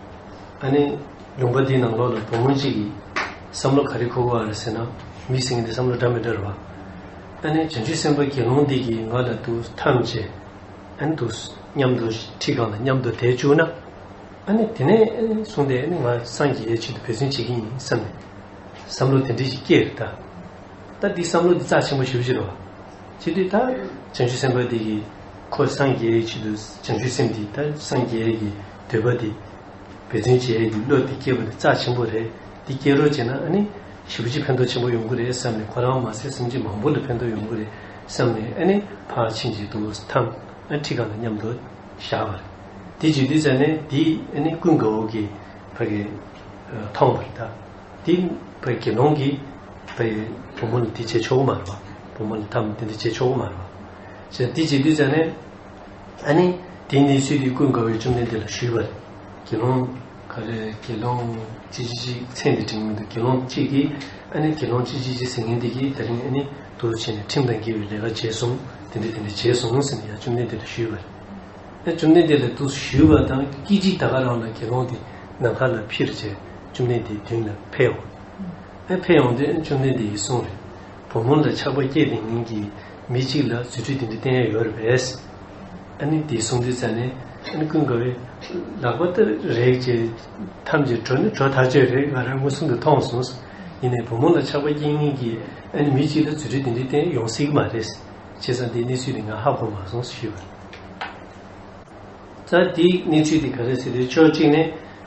[SPEAKER 1] ཨཱ་ནི། ལུང་པ་འདིའི་ནང་ལོགས་ལ་བུ་མོ་གཅིག་གིས། བསམ་བློ་ག་རེ་ཁུར་བ་རེད་ཟེར་ན། མི་ཟེར་མཁན་དེ་བསམ་བློ་འདྲ་མི་འདྲ་རེད་པ། ཨཱ་ནི། བྱང་ཆུབ་སེམས་དཔའ་དགེ་སློང་འདི་གིས་ང་ལ་འདུ་ཐམས་ཅད། ཨཱ་ནི། འདུ་སྙམ་དུ་ཁྲིད་གང་ལ་སྙམ་དུ་དེ་བཅུག་ན། ཨཱ་ནི། དེ་ནས་བཟུང་སྟེ་ཨཱ་ནི་ང་སངས་རྒྱས་ཆེད་དུ་འབད་བརྩོན་བྱེད་ཀྱི་ཡིན་བསམས་ནས། བསམ་བློ་དེ་འདྲས་ཀྱིས་སྐྱེས་རེད་ད། ད་འདིས་བསམ་བློ་འདི་རྩ་ཆེན་པོ་ཞུ་བྱེད་རེད་བ། བྱེད་དུས་ད། བྱང་ཆུབ་སེམས་དཔའ་འདི་གིས། ཁོ་སངས་རྒྱས་ཀྱི་ཆེད་དུ་བྱང་ཆུབ་སེམས་འདི་ད་སངས་རྒྱས་ཀྱི། འདོད་པ་འདི། འབད་བརྩོན་བྱེད་ཡས་ཀྱི་བློ་འདི་སྐྱེས་པ་འདི་རྩ་ཆེན་པོ་རེད། འདི་སྐྱེ་རོགས་བྱས་ན་ཨ་ནི། ཞི་བ་ཅིག་ཕན་ཐོག་ཆེན་པོ་ཡོང་གི་རེད་བསམ་ནས་ཁོ་རང་མ་ཟད་སེམས་ཅན་མང་པོ་ལ་ཕན་ཐོག་ཡོང་གི་རེད་བསམ་ནས་ཨ་ནི་ཕར་ཕྱིན་ཅིག་འདུག་ཐང་ཨ་ཁྲིད་གང་ལ་མཉམ་དུ་བཞག་པ། འདི་བྱེད་དུས་བྱས་ནས་འདི་ཨ་ནི་ཀུན་དགའ་བོ་གི་བ་གི། ཐོང་བར་གདའ། འདི་བ་དགེ་སློང་གི་བ་ཡི་བུ་མོ་ལ་འདི་བྱས་ཆོག་གི་མ་རེད་བ་བུ་མོ་ལ་ཐམ་འདི་འདི་བྱས་ཆོག་གི་མ་རེད་བ། ཞེས་འདི་བྱེད་དུས་བྱས་ནས། ཨཱ་ནི། དེ་ནི་ཚུལ་འདི་ཀུན་དགའ་བོས་བཅོམ་ལྡན་འདས་ལ་ཞུས་པ། དགེ་སློང། ག་རེ། དགེ་སློང། ཅི་ཅི་ཅི། ཚེ་འདི་འབྲིང་མོ་འདུག་དགེ་སློང་གཅིག་གིས། ཨཱ་ནི། དགེ་སློང་ཅི་ཅི་ཅི་ཟེར་ངན་འདི་ཀྱིས་ད་རིང་ཨཱ་ནི། དུ་རུ་བྱས་ནས་ཁྲིམས་དང་འགལ་བའི་ལས་ཀ་བྱས་གསུངས། དེ་འདྲ་དེ་འདྲ་བྱས་གསུངས་ཟེར་ནས་ཡང་བཅོམ་ལྡན་འདས་ལ་ཞུས་པ། ཡང་བཅོམ་ལྡན་འདས་ལ་ཏུ་ཞུས་པ་དང་སྐད་ཅིག་ད་ག་རང་ལ་དགེ་སློང་དེ་ནམ་མཁའ་ལ་ཕྱིར་བྱས། བཅོམ་ལྡན་འདས་མདུན་ལ་ཕེབས། ཨ་ཕེབས་ཡོང་དུས་ཨ་བཅོམ་ལྡན་འདས་ཀྱིས་གསུངས། བུ་མོ་ལ་ཆགས་པ་སྐྱེས་ཏེ་ཉིན་གྱི་མི་གཅིག་ལ་རྫུ་འཕྲུལ་འདི་འདྲ་བསྟན་ཡ་ཡོད་རེད་པས། ཨ་ནི་དེའི་གསུང་འདི་བཙལ་ནས་ཨ་ནི་ཀུན་དགའ་བོས། ལག་པ་ལྟར་རེག་ཅེས། ཐམས་ཅད་གྲོ་ནི་གྲོ་ཐག་ཆོད་རེག་ང་རང་མངོན་སུམ་དུ་མཐོང་སོང། ཡིན་ནས་བུ་མོ་ལ་ཆགས་པ་སྐྱེས་ཉིན་གྱི་ཨ་ནི་མི་གཅིག་ལ་རྫུ་འཕྲུལ་འདི་འདྲ་བསྟན་ཡོང་སྲིད་ཀྱི་མ་རེད། བྱས་ཙང་དེའི་གནས་ཚུལ་དེ་ང་ཧ་གོ་མ་སོང་ཞུས་པར། ཙང་དེའི་གནས་ཚུལ་དེ་ག་རེ་ཟེར་དུས་ཕྱོགས་གཅིག་ནས་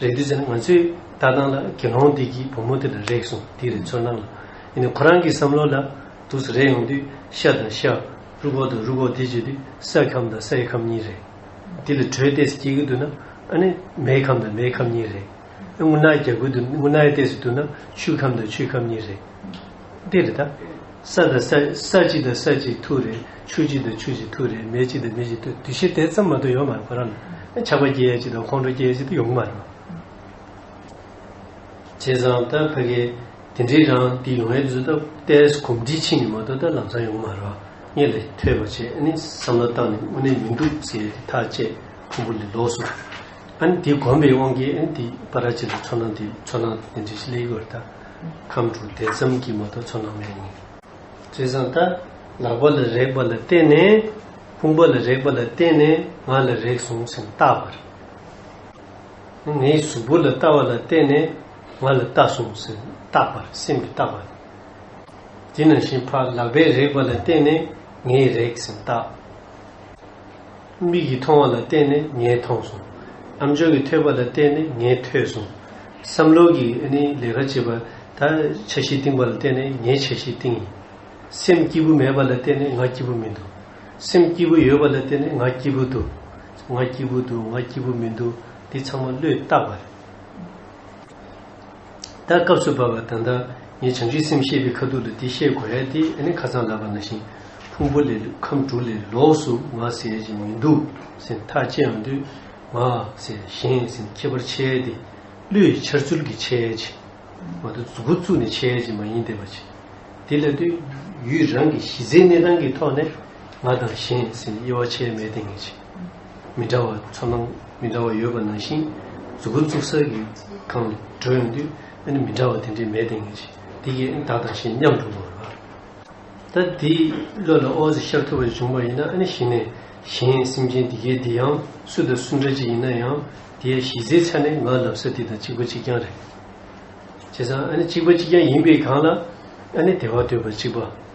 [SPEAKER 1] རེད་དུས་ཚོད་ང་ཚོས་ལྟ་སྟངས་ལ་དགེ་སློང་འདི་གྱིས་བུ་མོ་དེ་ལ་རེག་སོང་འདི་རེད་ཚོད་སྣང་ལ་ཡིན་ནའི་ཁོ་རང་གི་བསམ་བློ་ལ་འདུག་ཟེར་རེག་ཡོང་དུས་ཤ་དང་ཤ་རུ་གོ་དང་རུ་གོ་དེ་བརྗོད་དུས་སའི་ཁམས་དང་སའི་ཁམས་གཉིས་རེད། འདི་ལ་དྲོད་གཏད་སུ་སྐྱེལ་གི་འདུག་ན་ཨ་ནི་མེའི་ཁམས་དང་མེའི་ཁམས་གཉིས་རེད། ཨ་དངུལ་སྣ་རྒྱག་གི་འདུག་ན་དངུལ་སྣའི་གཏད་སུ་འདུག་ན་ཆུའི་ཁམས་དང་ཆུའི་ཁམས་གཉིས་རེད། འདི་རེད་ད། ས་དང་ས་ས་གཅིག་དང་ས་གཅིག་ཐུག་རེད། ཆུ་གཅིག་དང་ཆུ་གཅིག་ཐུག་རེད་མེ་གཅིག་དང་མེ་གཅིག་ཐུག་འདུ་ཤེས་དེ་ཙམ་མ་གཏོགས་ཡོད་མ་རེད་ཁོ་རང་ལ་ཆགས་པ་སྐྱེ་ཡ་གཅིག་དང་ཁོང་ཁྲོ་སྐྱེ་ཡ་གཅིག་དེ་ཡོང་གི་མ་རེད། བྱས་ཙང་ད་ཕ་གིས་དེ་འདྲའི་རང་འདི་ཡོང་ཡས་བཟོས་ད་ལྟས་གོམས་འདྲིས་ཕྱིན་ནས་མ་གཏོགས་ད་ལམ་སང་ཡོང་གི་མ་རེད་ངས་ལས་ཐོས་པ་བྱས་ཨ་ནི་བསམ་བློ་བཏང་ནས་དངོས་གནས་མི་འདུག་ཟེར་ཡས་དེ་ཐག་བཅད་ཕུང་པོ་ལས་ལོག་སོང། ཨ་ནི་དེ་གོམས་པའི་དབང་གིས་ཨ་ནི་དེ་པ་ར་བྱས་ལ་ཚོར་སྣང་དེ་ཚོར་སྣང་དེ་འདྲའི་ཞིག་སླེབས་ཡོད་རེད་ད། ཁམས་དྲུག་དེ་ཙམ་གྱིས་མ་གཏོགས་ཚོར་སྣང་མེད་ནི། རྩེ་བཟང་ལྟ། ལག་པ་ལ་རེག་པ་ལ་བརྟེན་ནས་དཔུང་པ་ལ་རེག་པ་ལ་བརྟེན་ནས་ངག་ལ་རེག་ཟུང་སེམས་ལྟ་བར་ནི། ངའི་གཟུགས་པོ་ལ་ལྟ་བ་ལ་བརྟེན་ནས་ང་ལ་ལྟ་ཟུང་སེམས་ལྟ་བར་སེམས་ཀྱི་ལྟ་བར་ནི། དེ་ནང་བཞིན་ཕ་ལག་པའི་རེག་པ་ལ་བརྟེན་ནས་ངའི་རེག་སེམས་ལྟ། མིག་གིས་མཐོང་བ་ལ་བརྟེན་ནས་ངས་མཐོང་སོང། ཨམ་ཅོག་གིས་ཐོས་པ་ལ་བརྟེན་ནས་ངས་ཐོས་སོང། བསམ་བློ་གིས་ལས་ཀ་བྱེད་པ་ད་ཆ་ཞིག་བཏིང་བ་ལ་བརྟེན་ནས་ངས་ཆ་ཞིག་བཏིང། སེམས་སྐྱིད་པོ་མེད་པ་ལ་བརྟེན་ནས་ང་སྐྱིད་པོ་མི་འདུག། སེམས་སྐྱིད་པོ་ཡོད་པ་ལ་བརྟེན་ནས་ང་སྐྱིད་པོ་འདུག། ང་སྐྱིད་པོ་འདུག་ང་སྐྱིད་པོ་མི་འདུག་འདི་ཚང་མ་བློས་བཏགས་པ་རེད། ད་སྐབས་སུ་བབ་པ་ད་ལྟ་ངས་བྱང་ཆུབ་སེམས་ཤེས་པའི་ཁ་ཐུག་ཏུ་འདི་བཤད་དགོས་ཡ་དེ་ཨ་ནི་ཁ་ཚང་ལབ་པ་ན་བཞིན་ཕུང་པོ་ལས་ཁམས་དྲུག་ལས་ལོགས་སུ་ང་ཟེར་བཞིན་མི་འདུག་ཟེར་ཐག་བཅད་ཡོང་དུས་ང་ཟེར་གཞན་ཟེར་ཁྱད་པར་འཆལ་ཏེ། བློས་ཡི་འཆར་ཚུལ་གྱིས་འཆལ་བྱེད། མ་མཐོ་གཟུགས་སྐུ་བཙུགས་ནས་འཆལ་བྱེད་མ་ཡིན་བདེན་པ་བྱེད། དེ་ལ་དུས་ཡུན་རང་གི་གཞི་རྩའི་གནས་སྟངས་ཀྱི་ཐོག་ནས་ང་དང་གཞན་ཟེར་དབྱེ་བ་འཆལ་མེད་བསྟན་ངེས་བྱེད། མི་འདྲ་བ་ཚོར་སྣང་མི་འདྲ་བ་ཡོད་པ་ནང་བཞིན་གཟུགས་སྐུ་གཙུག་གསར་གྱི་ཁང་ནས་བགྲོད་ཡོང་དུས་ཨ་ནི་མི་འདྲ་བ་དེ་འདྲའི་མེད་དེ་ངེས་ཅི་སྟེ་ཨ་ནི་བདག་དང་ཞེས་སྙམ་དུ་འོང་བ་རེད། ད་དེའི་བློ་ལ་ཨོ་ཟི་ཤར་ཐུབ་པ་བྱུང་བ་ཡིན་ན་ཨ་ནི་གཞི་ནས་གཞན་སེམས་ཅན་འདི་གའི་འདི་ཡང་སུ་དང་སུ་འདྲ་ཅི་ཡིན་ན་ཡང་དེ་ཡང་གཞི་རྩའི་ཆ་ནས་ང་ལབ་ས་དེ་དང་གཅིག་པ་གཅིག་རྐྱང་རེད། བྱས་ཙང་ཨ་ནི་གཅིག་པ་གཅིག་རྐྱང་ཡིན་པའི་སྒང་ལ་ཨ་ནི་དེ་བར་འདོད་པ་གཅིག་པ།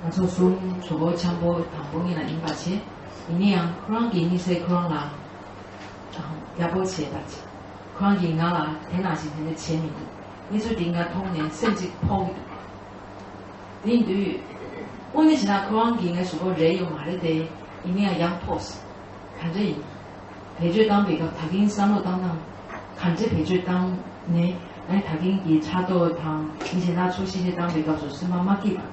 [SPEAKER 2] ང་ཚོ་གསུམ་གྲོགས་པོ་འཆམ་པོ་དང་པོ་གཉིས་ལ་ཡིན་པར་བྱེད། ཡིན་ན་ཡང་ཁོ་རང་གིས་གཉིད་སད་ཁོ་རང་ལ་རྒྱབ་སྐྱོར་བྱེད་པར་བྱེད། ཁོ་རང་གིས་ང་ལ་དེ་ནང་བཞིན་དེ་འདྲ་བྱས་མི་འདུག་གནས་ཚུལ་འདི་ང་མཐོང་ནས་སེམས་གཅིག་ཕོག་གི་འདུག་དེ་ཡིན་དུས། དངོས་གནས་བྱས་ན་ཁོ་རང་གིས་ངའི་གཟུགས་པོ་རེག་ཡོད་མ་རེད་དེ། ཡིན་ན་ཡང་ཡང་ཕོགས། ག་འདྲ་ཡིན། བེད་སྤྱོད་བཏང་པའི་སྐབས་ད་གིན་བསམ་བློ་བཏང་ན། ག་འདྲ་བེད་སྤྱོད་བཏང་ནས་ང་ནི་ད་གིན་གྱི་ཕྲག་དོག་དང་མི་གཞན་སྣ་ཚོགས་གཤིས་ཤིག་བཏང་པའི་སྐབས་སུ་སེམས་པ་མ་སྐྱིད་པ།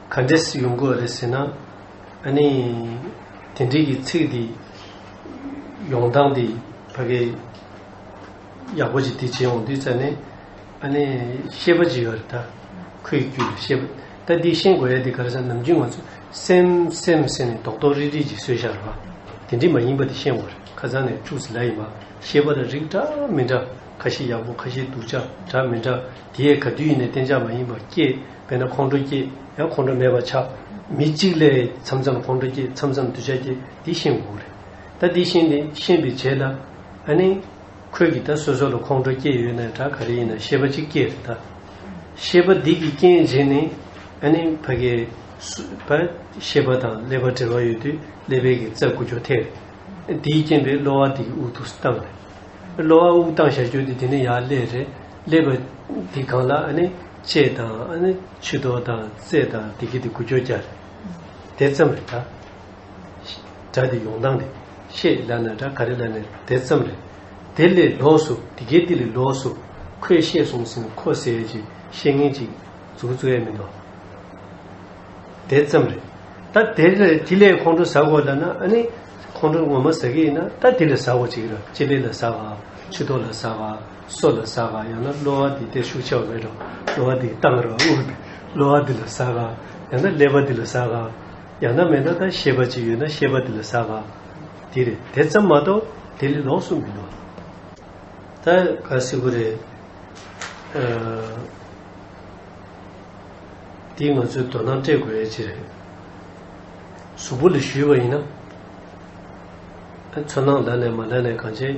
[SPEAKER 1] ག་འདྲས་ཡོང་དགོས་རེད་ཟེར་ན། ཨ་ནི། དེ་འདྲིའི་གི་ཚིག་འདི། ཡོང་སྟངས་འདི་ཕ་གི། ཡག་པོ་ཅིག་འདི་བྱེད་འོང་དུས་ཙཱ་ནི། ཨ་ནི། ཤེས་པ་ཅིག་ཡོད་རེད་ད། ཁོས་རྒྱུད་ལ་ཤེས་པ། ད་འདི་ཤེས་དགོས་ཡ་འདི་ག་རེ་ཟ་ནམ་རྒྱུན་ང་ཚོ། སེམས། སེམས་ཟེར་ནས་དོག་དོག་རིག་རིག་ཅིག་བཟོས་ཤག་རེད་བ། དེ་འདྲི་མ་ཡིན་པ་འདི་ཤེས་འོང་རེད་ཁ་ཚང་ནས་ཕྲུག་ཟི་ལ་ཡིན་པ། ཤེས་པ་ལ་རིགས་འདྲ་མི་འདྲ། ཁ་ཤེས་ཡག་པོ་ཁ་ཤེས་སྡུག་ཅག་འདྲ་མི་འདྲ། དེ་ཡས་ག་དུས་ཡིན་ནས་གཏན་འཇགས་མ་ཡིན་པ་སྐྱེས། དཔེར་ན་ཁོང་ཁྲོ་སྐྱེས་ཡང་ཁོང་ཁྲོ་མེད་པར་ཆགས། མི་གཅིག་ལས་མཚམས་མཚམས་ཁོང་ཁྲོ་སྐྱེས་མཚམས་མཚམས་གདུལ་བྱ་སྐྱེས་འདི་ཤེས་དགོས་རེད། ད་འདི་ཤེས་ནས་ཤེས་པའི་རྗེས་ལ། ཨ་ནི། ཁོས་ཀྱིས་ད་སོ་སོ་ལ་ཁོང་ཁྲོ་སྐྱེས་ཡོད་ན་ཡང་དགྲ་ག་རེ་ཡིན་ན་ཤེས་པ་ཅིག་སྐྱེས་རེད་ད། ཤེས་པ་འདི་གྱི་རྐྱེན་བྱས་ནས། ཨ་ནི་ཕ་གི། བ། ཤེས་པ་དང་ཀླད་པ་འབྲེལ་བ་ཡོད་དུས་ཀླད་པའི་གི་རྩ་དགུ་འགྱོ་ཐལ་རེད། དེའི་རྐྱེན་པས་གློ་བ་འདི་གི་དབུགས་དུག་བཏང་རེད། གློ་བ་དབུགས་བཏང་བཞག་གྱུར་ཏེ་དེ་ནི་ཡར་ཀླད་རེད། ཀླད་པ། འདི་གང་ལ་ཨ་ནི། ཅེས་དང། ཨ་ནི་ཆུ་དོ་དང་རྩེ་དང་བདེ་སྐྱིད་དེ་དགུ་བཅོ་བརྒྱད་རེད། དེ་ཙམ་རེད། སྒྲ་དེ་ཡོང་སྟངས་དེ་ཤེས་སླ་ན་སྒྲ་ག་རེ་སླ་ནས་དེ་ཙམ་རེད། དེ་ལས་ལོགས་སུ་དེ་སྐད་དེ་ལས་ལོགས་སུ་ཁོས་བཤད་གསུངས་ཟིན་ཁོ་ཟས་ཀྱི་བཤད་ངན་ཅིག་འཛུགས་བརྩོ་ཡས་མིན་ནོ། དེ་ཙམ་རེད། ད་དེ་ལས་དེ་ལས་ཁོང་ཁྲོ་ཟ་དགོས་སླ་ན་ཨ་ནི་ཁོང་ཁྲོ་ངོ་མ་ཟ་གི་ཡིན་ན་ད་དེ་ལས་ཟ་བོ་ཅིག་ར་ཅེ་ལེ་ལ་ཟ་བ་ཆུ་དོ་ལ་ཟ་བ། སྲོག་ལ་ཟ་བ་ཡང་ན་གློ་བ་འདི་སྟེ་ཤུགས་ཆེ་བ་མེད་དོ། གློ་བ་འདིས་གཏང་རོགས་དབུགས་འདི་གློ་བ་འདི་ལ་ཟ་ག། ཡང་ན་ཀླད་པ་འདི་ལ་ཟ་ག། ཡང་ན་མེད་ན་ད་ཤེས་པ་ཅིག་ཡོད་ན་ཤེས་པ་འདི་ལ་ཟ་ག། འདི་རེད་དེ་ཙམ་མ་གཏོགས་དེ་ལས་ལོགས་སུ་མི་འདུག། ད་ག་སིག་པོ་རེད། འདི་ང་ཚོས་དོ་སྣང་སྤྲད་དགོས་ཡ་ཅིག་རེད། གཟུགས་པོ་ལ་བཞུས་པ་ཡིན་ན། ཚོར་སྣང་ལ་ནས་མ་ལ་ནས་གང་བྱེད།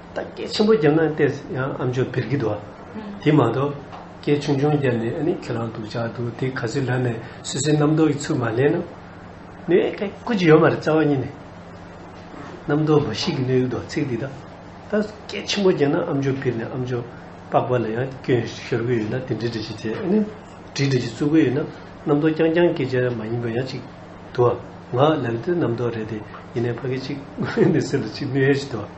[SPEAKER 1] བདག་སྐད་ཆེན་པོ་བརྒྱབ་ན་ལྟས་ཡང་ཨ་མཆོག་བིར་གི་འདུག་ཨ། དེ་མ་གཏོགས། སྐད་ཆུང་ཆུང་བརྒྱབ་ནས་ཨ་ནི་ཁྱོད་རང་སྡུག་ཅག་འདུག་དེ་ག་ཚོད་ལབ་ནས་སུད་སི་རྣམ་རྟོག་གི་ཚུལ་མ་ལེན་ནམ། ནུས་ཨེ་ཁེ་ཀུ་ཅི་ཡོད་མ་རེད་རྩ་བ་ཉིད་ནས། རྣམ་རྟོག་འབའ་ཞིག་གི་ནུས་ཡོད་འདུག་ཨ་ཚིག་འདི་དག་བདག་སྐད་ཆེན་པོ་བརྒྱབ་ན་ཨ་མཆོག་བིར་ནས་ཨ་མཆོག་པགས་པ་ལ་ཡང་སྐྱོན་ཤོར་གི་ཡོད་ན་དེ་འདྲི་འདྲི་ཞིག་བྱེད་ཨ་ནི། འདྲི་འདྲི་ཞིག་བཙུགས་གི་ཡོད་ན་རྣམ་རྟོག་རྐྱང་རྐྱང་སྐད་ཆ་མ་ཡིན་པ་ཡང་ཅིག་འདུག་ཨ། ང་ལབ་ཏེ་རྣམ་རྟོག་རེད་དེ་ཡིན་ནའི་ཕ་གི་ཅིག་ཨ་ནི་སེམས་ལ་ཅིག་ནུས་ཧེ་ཞིག་འདུག་ཨ།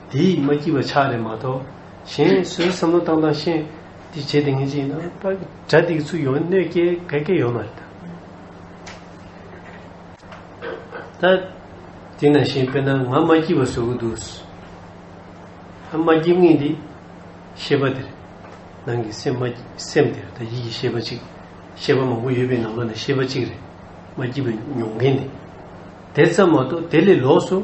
[SPEAKER 1] དེ་ཡིས་མ་བགྱིས་པ་ཆགས་རེད་མ་གཏོགས། གཞན་སུའི་བསམ་བློ་བཏང་བཏང་ཤེས། འདི་བྱེད་དེ་ངན་བྱེད་ཡིན་ན། པར་གྲ་འདི་གི་ཚུལ་ཡོང་གནོད་སྐྱེལ་བད་སྐད་ཡོང་ན་རེད་ད། ད་དེ་ན་གཞན་དཔེ་ན་ང་མ་བགྱིས་པ་བཟོ་གི་འདུག། ཨ་མ་བགྱིད་ངེས་འདི། ཤེས་པ་དེར། ནང་གི་སེམས་མ་སེམས་དེར་ད་ཡིད་ཀྱི་ཤེས་པ་གཅིག། ཤེས་པ་མང་པོ་ཡོད་པའི་ནང་པ་ན་ཤེས་པ་གཅིག་རེད། མ་བགྱིས་པ་མྱོང་མཁན་དེ། དེ་ཙམ་མ་གཏོགས་དེ་ལས་ལོགས་སུ།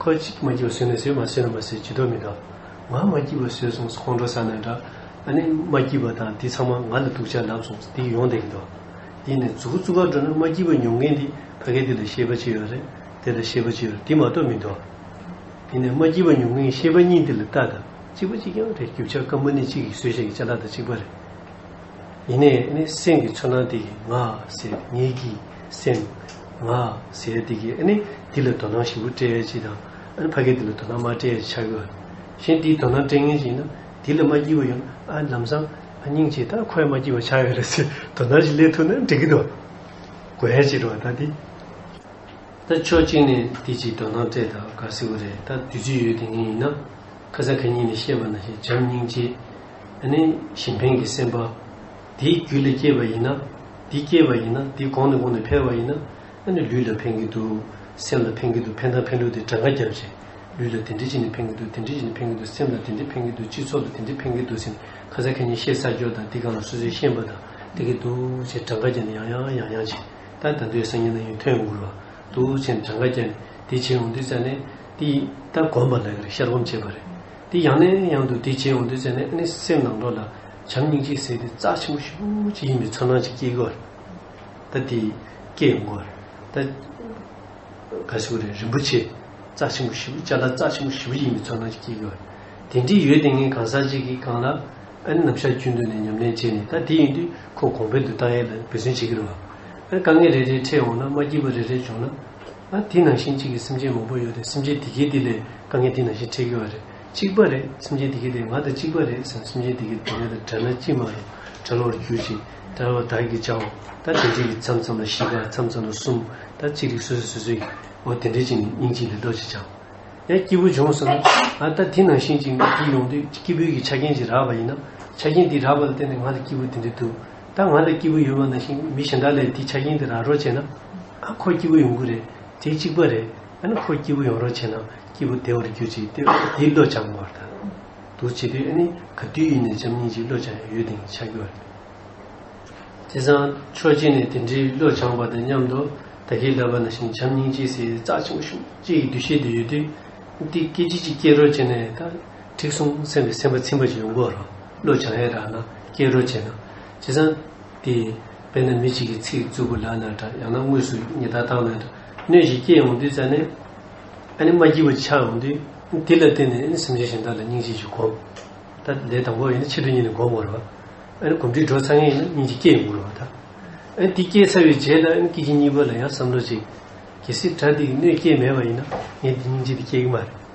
[SPEAKER 1] ཁོས་གཅིག་མ་བགྱིས་པ་ཟོས་ནས་ཟོས་མ་ཟོས་ན་མ་ཟོས་ཇི་ལྟར་མི་གདའ། ང་མ་བགྱིས་པ་ཟོས་སོང་ཁོང་ཁྲོ་ཟ་ནས་འདྲ། ཨ་ནེ་མ་བགྱིས་པ་དང་འདི་ཚང་མ་ང་ལ་སྡུག་ཅག་ལབ་སོང་འདི་ཡོང་བསྡད་ཀྱི་འདུག། དེ་ནས་རྫུ་གུ་གཙུག་གར་འགྲོ་ན་མ་བགྱིས་པ་མྱོང་མཁན་འདི་ཕ་གས་འདི་ལ་ཤེས་པ་ཅི་ཡོད་རེད་དེ་ལ་ཤེས་པ་ཅི་ཡོད་འདི་མ་གཏོགས་མི་འདུག། དེ་ནས་མ་བགྱིས་པ་མྱོང་མཁན་ཤེས་པ་གཉིས་འདི་ལ་བལྟ་དང་གཅིག་པ་གཅིག་རྐྱང་རེད་རྒྱུ་ཆ་སྐམ་པོ་ནི་གཅིག་གིས་ཟོས་ཤིང་གཅིག་ལག་དང་གཅིག་པ་རེད། ཡེ་ནས་ནི་སེམས་ཀྱི་ཚོར་སྣང་དེ་ཡི་ང་ཟེར་ངེད་ཀྱི་སེམས། ང་ཟེར་དེ་ཀྱི་ནི་འདི་ལ་དོ་སྣང་ཞིབ་པོ་སྤྲད་ཅིག་དང། ཕ་གིས་འདི་ལ་དོ་སྣང་མ་སྤྲད་ཅེས་བྱ་གི། གཞན་འདིས་དོ་སྣང་སྤྲད་ངེས་ཅིག་ན། འདི་ལ་མ་བགྱི་བ་ཡང་ལམ་བཟང། སྙིང་རྗེས་ད་ཁོས་མ་བགྱི་བར་བྱ་ཡོད་རེད་ཟེར་དོ་སྣང་ཞིག་སླེབས་ཐུབ་ན་འགྲིག་གི་འདུག། དགོས་ཡ་ཅིག་རེད་བ་ད་འདི། ད་ཕྱོགས་གཅིག་ནས་འདི་ཅིག་དོ་སྣང་སྤྲད་ད་ག་སྲིད་བོ་རེད་ད་བདུད་རྩི་ཡོད་དེ་ངས་ཡིན་ན། ཁ་སང་ཁ་ཉིན་ནས་བཤད་པ་ན་ཞེས་བྱམས་སྙིང་རྗེས། ཨ་ནི་ཞིན་ཕེང་གི་སེམས་པ། དེའི་རྒྱུ་ལས་སྐྱེས་པ་ཡིན་ན། འདི་སྐྱེས་པ་ཡིན་ན་འདི་གོང་ནས་གོང་ནས་འཕེལ་བ་ཡིན་ན། ཨ་ནི་ལུས་ལ་ཕན་གྱི་འདུག་སེམས་ལ་ཕན་གྱི་འདུག་ཕན་དང་ཕན་ལུགས་དེ་གྲངས་ཀ་བརྒྱ་བྱས། ལུས་ལ་དེ་འདྲི་ཅི་ནས་ཕན་གྱི་འདུག་དེ་འདྲི་ཅི་ནས་ཕན་གྱི་འདུག་སེམས་ལ་དེ་འདྲི་ཕན་གྱི་འདུག་སྤྱི་ཚོགས་ལ་དེ་འདྲི་ཕན་གྱི་འདུག་སེམས་ཁ་ཟས་ཁ་ཉིན་ཤེས་ས་སྐྱོ་དང་འདི་གང་ལ་སོ་སོའི་ཤེས་པ་དང། བལྟ་གི་འདུག་ཅེས་གྲངས་ཀ་བརྒྱ་ནས་ཡང་ཡང་ཡང་ཡང་བྱས། ད་ད་དུས་སང་ཉིན་ན་ཡང་ཐོན་དགོས་ལ། འདུག་ཅེས་གྲངས་ཀ་བརྒྱ་ནས་འདི་བྱས་འོང་དུས་ཙཱ་ནས། འདི་ད་གོམས་པ་ལགས་ཀྱི་རེད་ཤར་གོམས་བྱས་པ་རེད། དེ་ཡང་ནས་ཡང་དུ་དེ་བྱེད་འོང་དུས་ཚེ་ནས་ཨ་ནེ་སེམས་ནང་འགྲོ་ལ་བྱམས་སྙིང་རྗེའི་ཟེར་དེ་རྩ་ཆེན་པོ་ཤུགས་ཀྱིས་ཡིན་པའི་ཚོར་སྣང་ཅིག་སྐྱེས་གོ། ད་དེ་སྐྱེས་ཡོང་གོ། ད། ག་ཟེ་བོ་རེད་རིན་པོ་ཆེ། རྩ་ཆེན་པོ་བཞི་བོ་བཅའ་སླ་རྩ་ཆེན་པོ་བཞི་བོ་ཡིན་པའི་ཚོར་སྣང་ཅིག་སྐྱེས་གོ། དེ་འདྲིས་ཡོད་དེ་ངས་གང་ཟག་ཅིག་གིས་བཀང་ལ། ཨ་ནེ་ནམ་ཞག་བཅུའི་མདུན་ནས་ཉམས་ལེན་བྱས་ནས་ད་དེ་ཡིན་དུས་ཁོ་གོང་འཕེལ་དུ་བཏང་ཡས་ལ་འབད་བརྩོན་བྱེད་ཀྱི་རོ། ཨ་ནེ་དཀའ་ངལ་རེ་རེ་འཕྲད་འོང་ན་མ་སྐྱིད་པོ་རེ་རེ་བྱུང་ན། ཨ། དེ་ནང་བཞིན་གཅིག་གི་སེམས་ཅན་མང་པོ་ཡོད་དེ་སེམས་ཅན་དེ་གས་དེ་ལས་དཀའ་ངལ་དེ་ནང་བཞིན་འཕྲད་ཀྱི་བ་རེད་གཅིག་པ་རེད་སེམས་ཅན་དེ་གས་དེ་ང་དང་གཅིག་པ་རེད་ཟེར་ན་སེམས་ཅན་དེ་གས་དེ་ང་དང་བྲལ་ན་ཅི་མ་རུང་བྲལ་བར་གྱུར་ཅིག་བྲལ་བ་བདག་གིས་བྱའོ་ད་དེ་འདྲས་ཀྱི་མཚམས་མཚམས་ལ་བཞི་ཀ་མཚམས་མཚམས་ལ་གསུམ་ད་གཅིག་རིགས་སོ་སོས་སོ་སོའི་ཨོ་དེ་འདྲས་ཅིག་ནི་སྙིང་གཅིག་ལས་ལྡོག་ཅིག་བྱའོ། ཡང་སྐྱེས་བུ་འབྱུང་ཟེར་ན་ཨ་ད་དེ་ནང་བཞིན་གཅིག་ནི་དེ་ཡོང་དུས་སྐྱེས་བུ་གི་ཆ་རྐྱེན་གྱིས་རགས་པ་ཡིན་ན་ཆ་རྐྱེན་དེ་རགས་པ་ལ་བརྟེན་ནས་ང་དང་སྐྱེས་བུ་དེ་འདྲས་འདུག་ད་ང་ལ་སྐྱིད་པོ་ཡོད་པ་ན་ཞིང་མི་གཞན་དག་ལས་དེའི་ཆ་རྐྱེན་དེ་རག་རོགས་བྱས་ན། ཨ་ཁོ་སྐྱིད་པོ་ཡོང་གི་རེད་དེ་གཅིག་པ་རེད་ཨ་ནི་ཁོ་སྐྱིད་པོ་ཡོང་རོགས་བྱས་ན་སྐྱིད་པོ་བདེ་བར་གྱུར་ཅིག་ཏེ་དེའི་བློ་སྦྱང་དགོས་པར་ཐལ། འདུག་བྱས་དུས་ཨ་ནི་ག་དུས་ཡིན་ནས་བྱམས་སྙིང་རྗེའི་བློ་སྦྱང་ཡང་ཡོད་དེང་ཆ་རྒྱུ་བ་རེད། དེ་སང་ཆོས་རྗེ་ནས་དེ་འདྲའི་བློ་སྦྱང་པ་དང་མཉམ་དུ་ད་གེ་ལབ་པ་ན་ཞིང་བྱམས་སྙིང་རྗེའི་སྲས་རྩ་ཆེན་པོ་ཤུག་རྗེ་ཡི་འདུ་ཤེས་དེ་ཡོད་དུས། འདི་སྐད་ཅིག་ཅིག་སྐྱེལ་རོགས་བྱས་ནས་ད། ཐིག་གསུམ་སེམས་ཀྱི་སེམས་དཔའ་ཚིམ་པར་བྱེད་པའི་མགོ་རོ། གློ་བྱང་ཧེ་ར་ན་སྐྱེས་རོ་བྱེད། བྱེད་ཙང་དེ། དཔེར་ན་མི་གཅིག་གིས་ཚིག་རྩུབ་པོ་ལག་ན་བསྒྲགས་ཡང་ན་དངོས་སུ་ཉི་ཟླ་དྭངས་མའི་སྣོད་ཞིག་སྐྱེས་འོང་དུས་རྩ་ནས། ཨ་ནི་མ་སྐྱིད་པོ་ཆགས་འོང་དུས། དེ་ལ་བརྟེན་ནས་ཨ་ནི་སེམས་ཅན་གཞན་དག་ལ་སྙིང་རྗེ་ཞིག་སྒོམ། ད་ལས་དང་པོ་ཡིན་ན་ཕྱི་དྲོ་གཉིད་ནས་སྒོམ་འོང་རོ། ཨ་ནི་གོམས་འདྲིས་འགྲོ་ཚར་ངེས་ཡིན་ན་སྙིང་རྗེ་སྐྱེས་འོང་རོ། ད་ཨ་ནི་དེ་སྐྱེས་ཚར་བའི་རྗེས་ལ་ཨ་ནི་སྐྱིད་ཀྱི་གཉིད་པ་ལ་ཡང་བསམ་བློ་གཅིག། གལ་སྲིད་དགྲ་འདི་ཡི་སྣོད་སྐྱེས་མེད་པ་ཡིན་ན་ངས་འདི་སྙིང་རྗེ་འདི་སྐྱེས་ཀྱི་མ་རེད།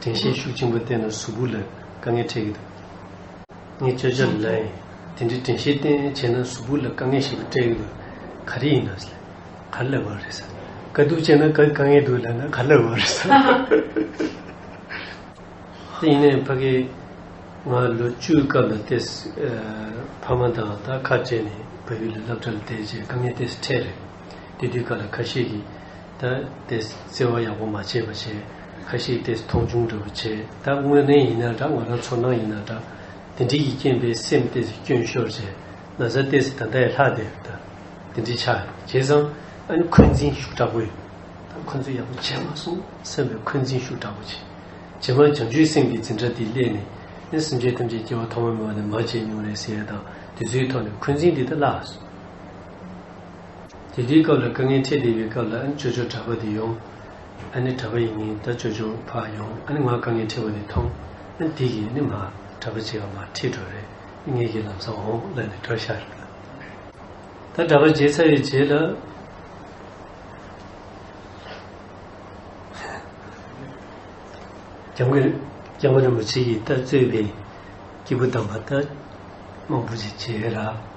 [SPEAKER 1] དྲན་ཤེས་ཤུགས་ཆེན་པོས་བརྟེན་ན་གཟུགས་སྐུ་ལ་དཀའ་ངལ་འཕྲད་ཀྱི་འདུག་ངས་བཅོས་བྱ་ལ་ལས། དེ་འདྲའི་དྲན་ཤེས་བརྟེན་བྱས་ན་གཟུགས་སྐུ་ལ་དཀའ་ངལ་ཞིག་སྤྲད་ཀྱི་འདུག་ག་རེ་ཡིན་ནམ། ག་ལ་བ་རེད། དཀའ་སྡུག་ཅན་ན་དཀའ་ངལ་འདུག་ལབ་ན་ག་ལ་བ་རེད། དེ་ཡིན་ནའི་ཕ་གི། ང་ལོ་བཅུའི་སྐབས་ལ་ཏེ། ཕ་མ་དང་ད་ཁ་བྲལ་ནས་བལ་ཡུལ་ལ་སློབ་གྲྭ་ལ་བསྡད་རྗེས་དཀའ་ངལ་ཏེ་འཕྲད་རེད། དེ་དུས་ག་ལ་ཁ་ཤས་ཀྱིས་ད་དེས་བརྩེ་བ་ཡག་པོ་མ་བྱས་པ་བྱས། ཁ་ཤས་དེས་མཐོང་ཆུང་འདྲ་བོ་བྱས། ད་དངོས་གནས་ཡིན་ན་འདྲ་ང་རང་ཚོར་སྣང་ཡིན་ན་འདྲ། དེ་འདྲི་ཡི་རྐྱེན་པས་སེམས་དེས་སྐྱོན་ཤོར་བྱས། ན་བཟའ་དེས་ད་ལྟ་ཡི་ལྷག་དེ་ད་དེ་འདྲི་ཆ་བྱས་ཙང། ཨ་ནི་འཁོན་འཛིན་ཤུགས་དྲག་པོ་ཡོད། ད་ཁོ་ཚོས་ཡག་པོ་བྱས་མ་སོང་སེམས་པའི་འཁོན་འཛིན་ཤུགས་དྲག་པོ་བྱས། རྗེས་མར་བྱང་ཆུའི་སེམས་ཀྱི་འཛིན་གྲྭ་དེ་སླེབས་ནས། ཨ་སེམས་ཅན་ཐམས་ཅད་སྐྱེ་བ་ཐོག་མ་མེད་པ་ནས་མར་བྱས་མྱོང་རེད་ཟེར་ཡས་དང་དེ་ཚོའི་ཐོག་ནས་འཁོན་འཛིན་དེ་ད་བརླགས། དེ་དུས་སྐབས་ལ་དཀའ་ངལ་འཕྲད་བསྡད་པའི་སྐབས་ལ་ཨ་ནི་ཅོ་ཅོ་གྲྭ་པ་དེ་ཡོང། ཨ་ནི་གྲྭ་པ་ཡིན་ངེས་ད་ཅོ་ཅོ་ཕ་ཡོང་ཨ་ནི་ང་དཀའ་ངལ་འཕྲད་པ་དེ་མཐོང། ཨ་ནི་དེ་གིས་ཨ་ནི་མ། གྲྭ་པ་བྱེད་པ་མ་ཁྲིད་འགྲོ་རེད་ཨ་ངེས་ཀྱིས་ལམ་སང་འོང་ལབ་ནས་འགྲོ་ཤག་རེད། ད་གྲྭ་པ་བྱེད་ཚར་བའི་རྗེས་ལ། རྒྱང་གི་རྒྱལ་བ་རིན་པོ་ཆེ་ཡིས་ད་གཙོས་པའི་སྐྱེས་བུ་དམ་པ་ད་དམངས་བུ་ཅིག་བྱེད་ར།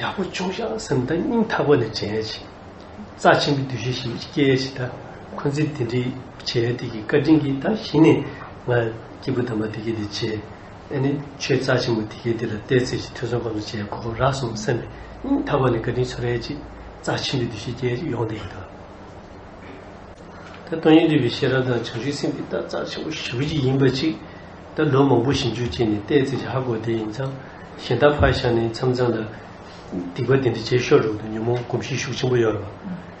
[SPEAKER 1] ཡག་པོ་བྱུང་ཤག་སེམས་གཏིང་སྙིང་ཐག་པ་ནས་བྱས་ཤིག། རྩ་ཆེན་པོའི་འདུ་ཤེས་ཤིག་སྐྱེས་ཤིག་ད་ཁོ་ཚོས་དེ་འདྲའི་བྱས་ཡ་དེ་གི་བཀའ་དྲིན་གྱིས་ད་གཞི་ནས་ང་སྐྱེས་བུ་དམ་པ་དེ་གས་དེ་བྱས་ཨེ་ནས་ཆོས་རྩ་ཆེན་པོ་དེ་གས་དེ་ལ་བལྟས་ཚེ་ཞིག་ཐུགས་བསམ་ཁོ་ཚོ་བྱས་ཁོ་རག་སོང་སེམས་པའི་སྙིང་ཐག་པ་ནས་བཀའ་དྲིན་ཆུ་རལ་ཅིག་རྩ་ཆེན་པོའི་འདུ་ཤེས་སྐྱེས་ཤིག་ཡོང་དེ་གི་ད། ད་སྟོང་ཉིད་འདུས་པའི་ཤེས་རབ་དང་བྱང་ཆུབ་སེམས་ཀྱི་ད་རྩ་ཆེན་པོ་ཞི་བ་ཅིག་ཡིན་པ་ཅིག་ད་ལོ་མང་པོ་ཞིབ་འཇུག་བྱས་ནས་བལྟས་ཚེ་ཧ་གོ་བདེ་ཡིན་ཙང་གཞན་དག་ཕར་བཞག་ནས་མཚམས་མཚམས་ལ། སྡིག་པ་དེ་འདྲ་བྱས་ཤོར་འགྲོ་འདུག་ཉོན་མོངས་གོམས་གཤིས་ཤུགས་ཆེན་པོ་ཡོད་རེད་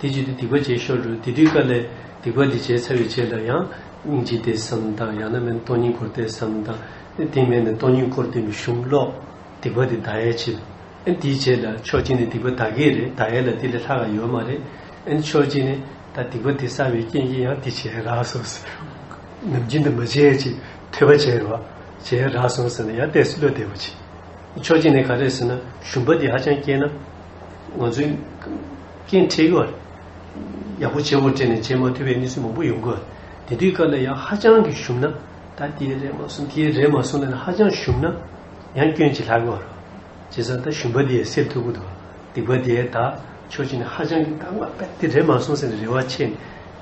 [SPEAKER 1] བ། དེ་བྱས་ཏེ་སྡིག་པ་བྱས་ཤོར་འགྲོ་དེ་དུས་དཀའ་ལས། སྡིག་པ་འདི་བྱས་ཚར་བའི་རྗེས་ལ་ཡང། སྙིང་རྗེ་བསྟེན་སམ་དང་ཡང་ན་མེད་ན་སྟོང་ཉིད་འཁོར་བསྟེན་སམ་དང། དེ་མེད་ན་སྟོང་ཉིད་འཁོར་བསྟེན་མི་ཤོང་ཀློགས། སྡིག་པ་དེ་བདག་ཡལ་བྱེད། ཨེ་འདིའི་རྗེས་ལ་ཕྱོགས་གཅིག་ནས་སྡིག་པ་བདག་གི་རེད་བདག་ཡལ་ལ་དེ་ལས་ལྷག་ག་ཡོད་མ་རེད། ཨེ་ཕྱོགས་གཅིག་ནས། ད་སྡིག་པ་འདི་བསགས་པའི་རྐྱེན་གྱིས་ཡང་འདི་བྱས་རག་སོང་ཟེར། ནམ་རྒྱུན་འདི་མ་བྱེད་ཅིག་ཐོས་པ་བྱས་རོགས། བྱས་རག་སོང་ཟེར་ན་ཡང་བལྟས་སུ་བློ་བདེ་བོ་བྱེད། ཕྱོགས་གཅིག་ནས་ག་རེ་ཟེར་ན་ཞུམ་པ་འདི་ཧ་ཅང་སྐྱེས་ན། ང་ཚོས། རྐྱེན་ཁྲིད་ཀྱི་བར། ཡག་པོ་བྱེད་དགོས་དྲན་ནས་བྱེད་མ་ཐུབ་པའི་གནས་ཚུལ་མང་པོ་ཡོང་གི། དེ་དུས་སྐབས་ལ་ཡང་ཧ་ཅང་གི་ཞུམ་ན། ད་དེའི་རེ་མ་སོང་དེའི་རེ་མ་སོང་ལ་ཡང་ཧ་ཅང་ཞུམ་ན། ཡང་སྐྱོན་གྱིས་ལྷག་གི་བར་རོ། རྗེ་བཟའ་ཟླ་ཞུམ་པ་དེའི་སེར་ཐུ་བུ་དང་སྡིག་པ་དེའི་དག་ཆོས་ཅན་ནི་ཧ་ཅང་གི་དག་མ་རེད་དེ་རེད་མ་གསུངས་ཟེར་ནས་རེ་བ་ཆེ་ནས་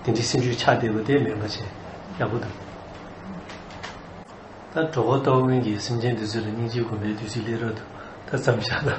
[SPEAKER 1] དེ་འདྲའི་སེམས་ཤུགས་ཆགས་བསྡད་པ་དེ་མེད་པ་བྱས་ཡག་པོ་འདུག་ད་གྲོགས་པོ་ཏོག་དབོན་གྱིས་སེམས་ཅན་འདི་ཚོས་ལ་སྙིང་རྗེ་སྒོམ་པའི་དུས་ཚིགས་སླེབས་རབས་འདུག་ད་བརྩམས་བཞག་དང།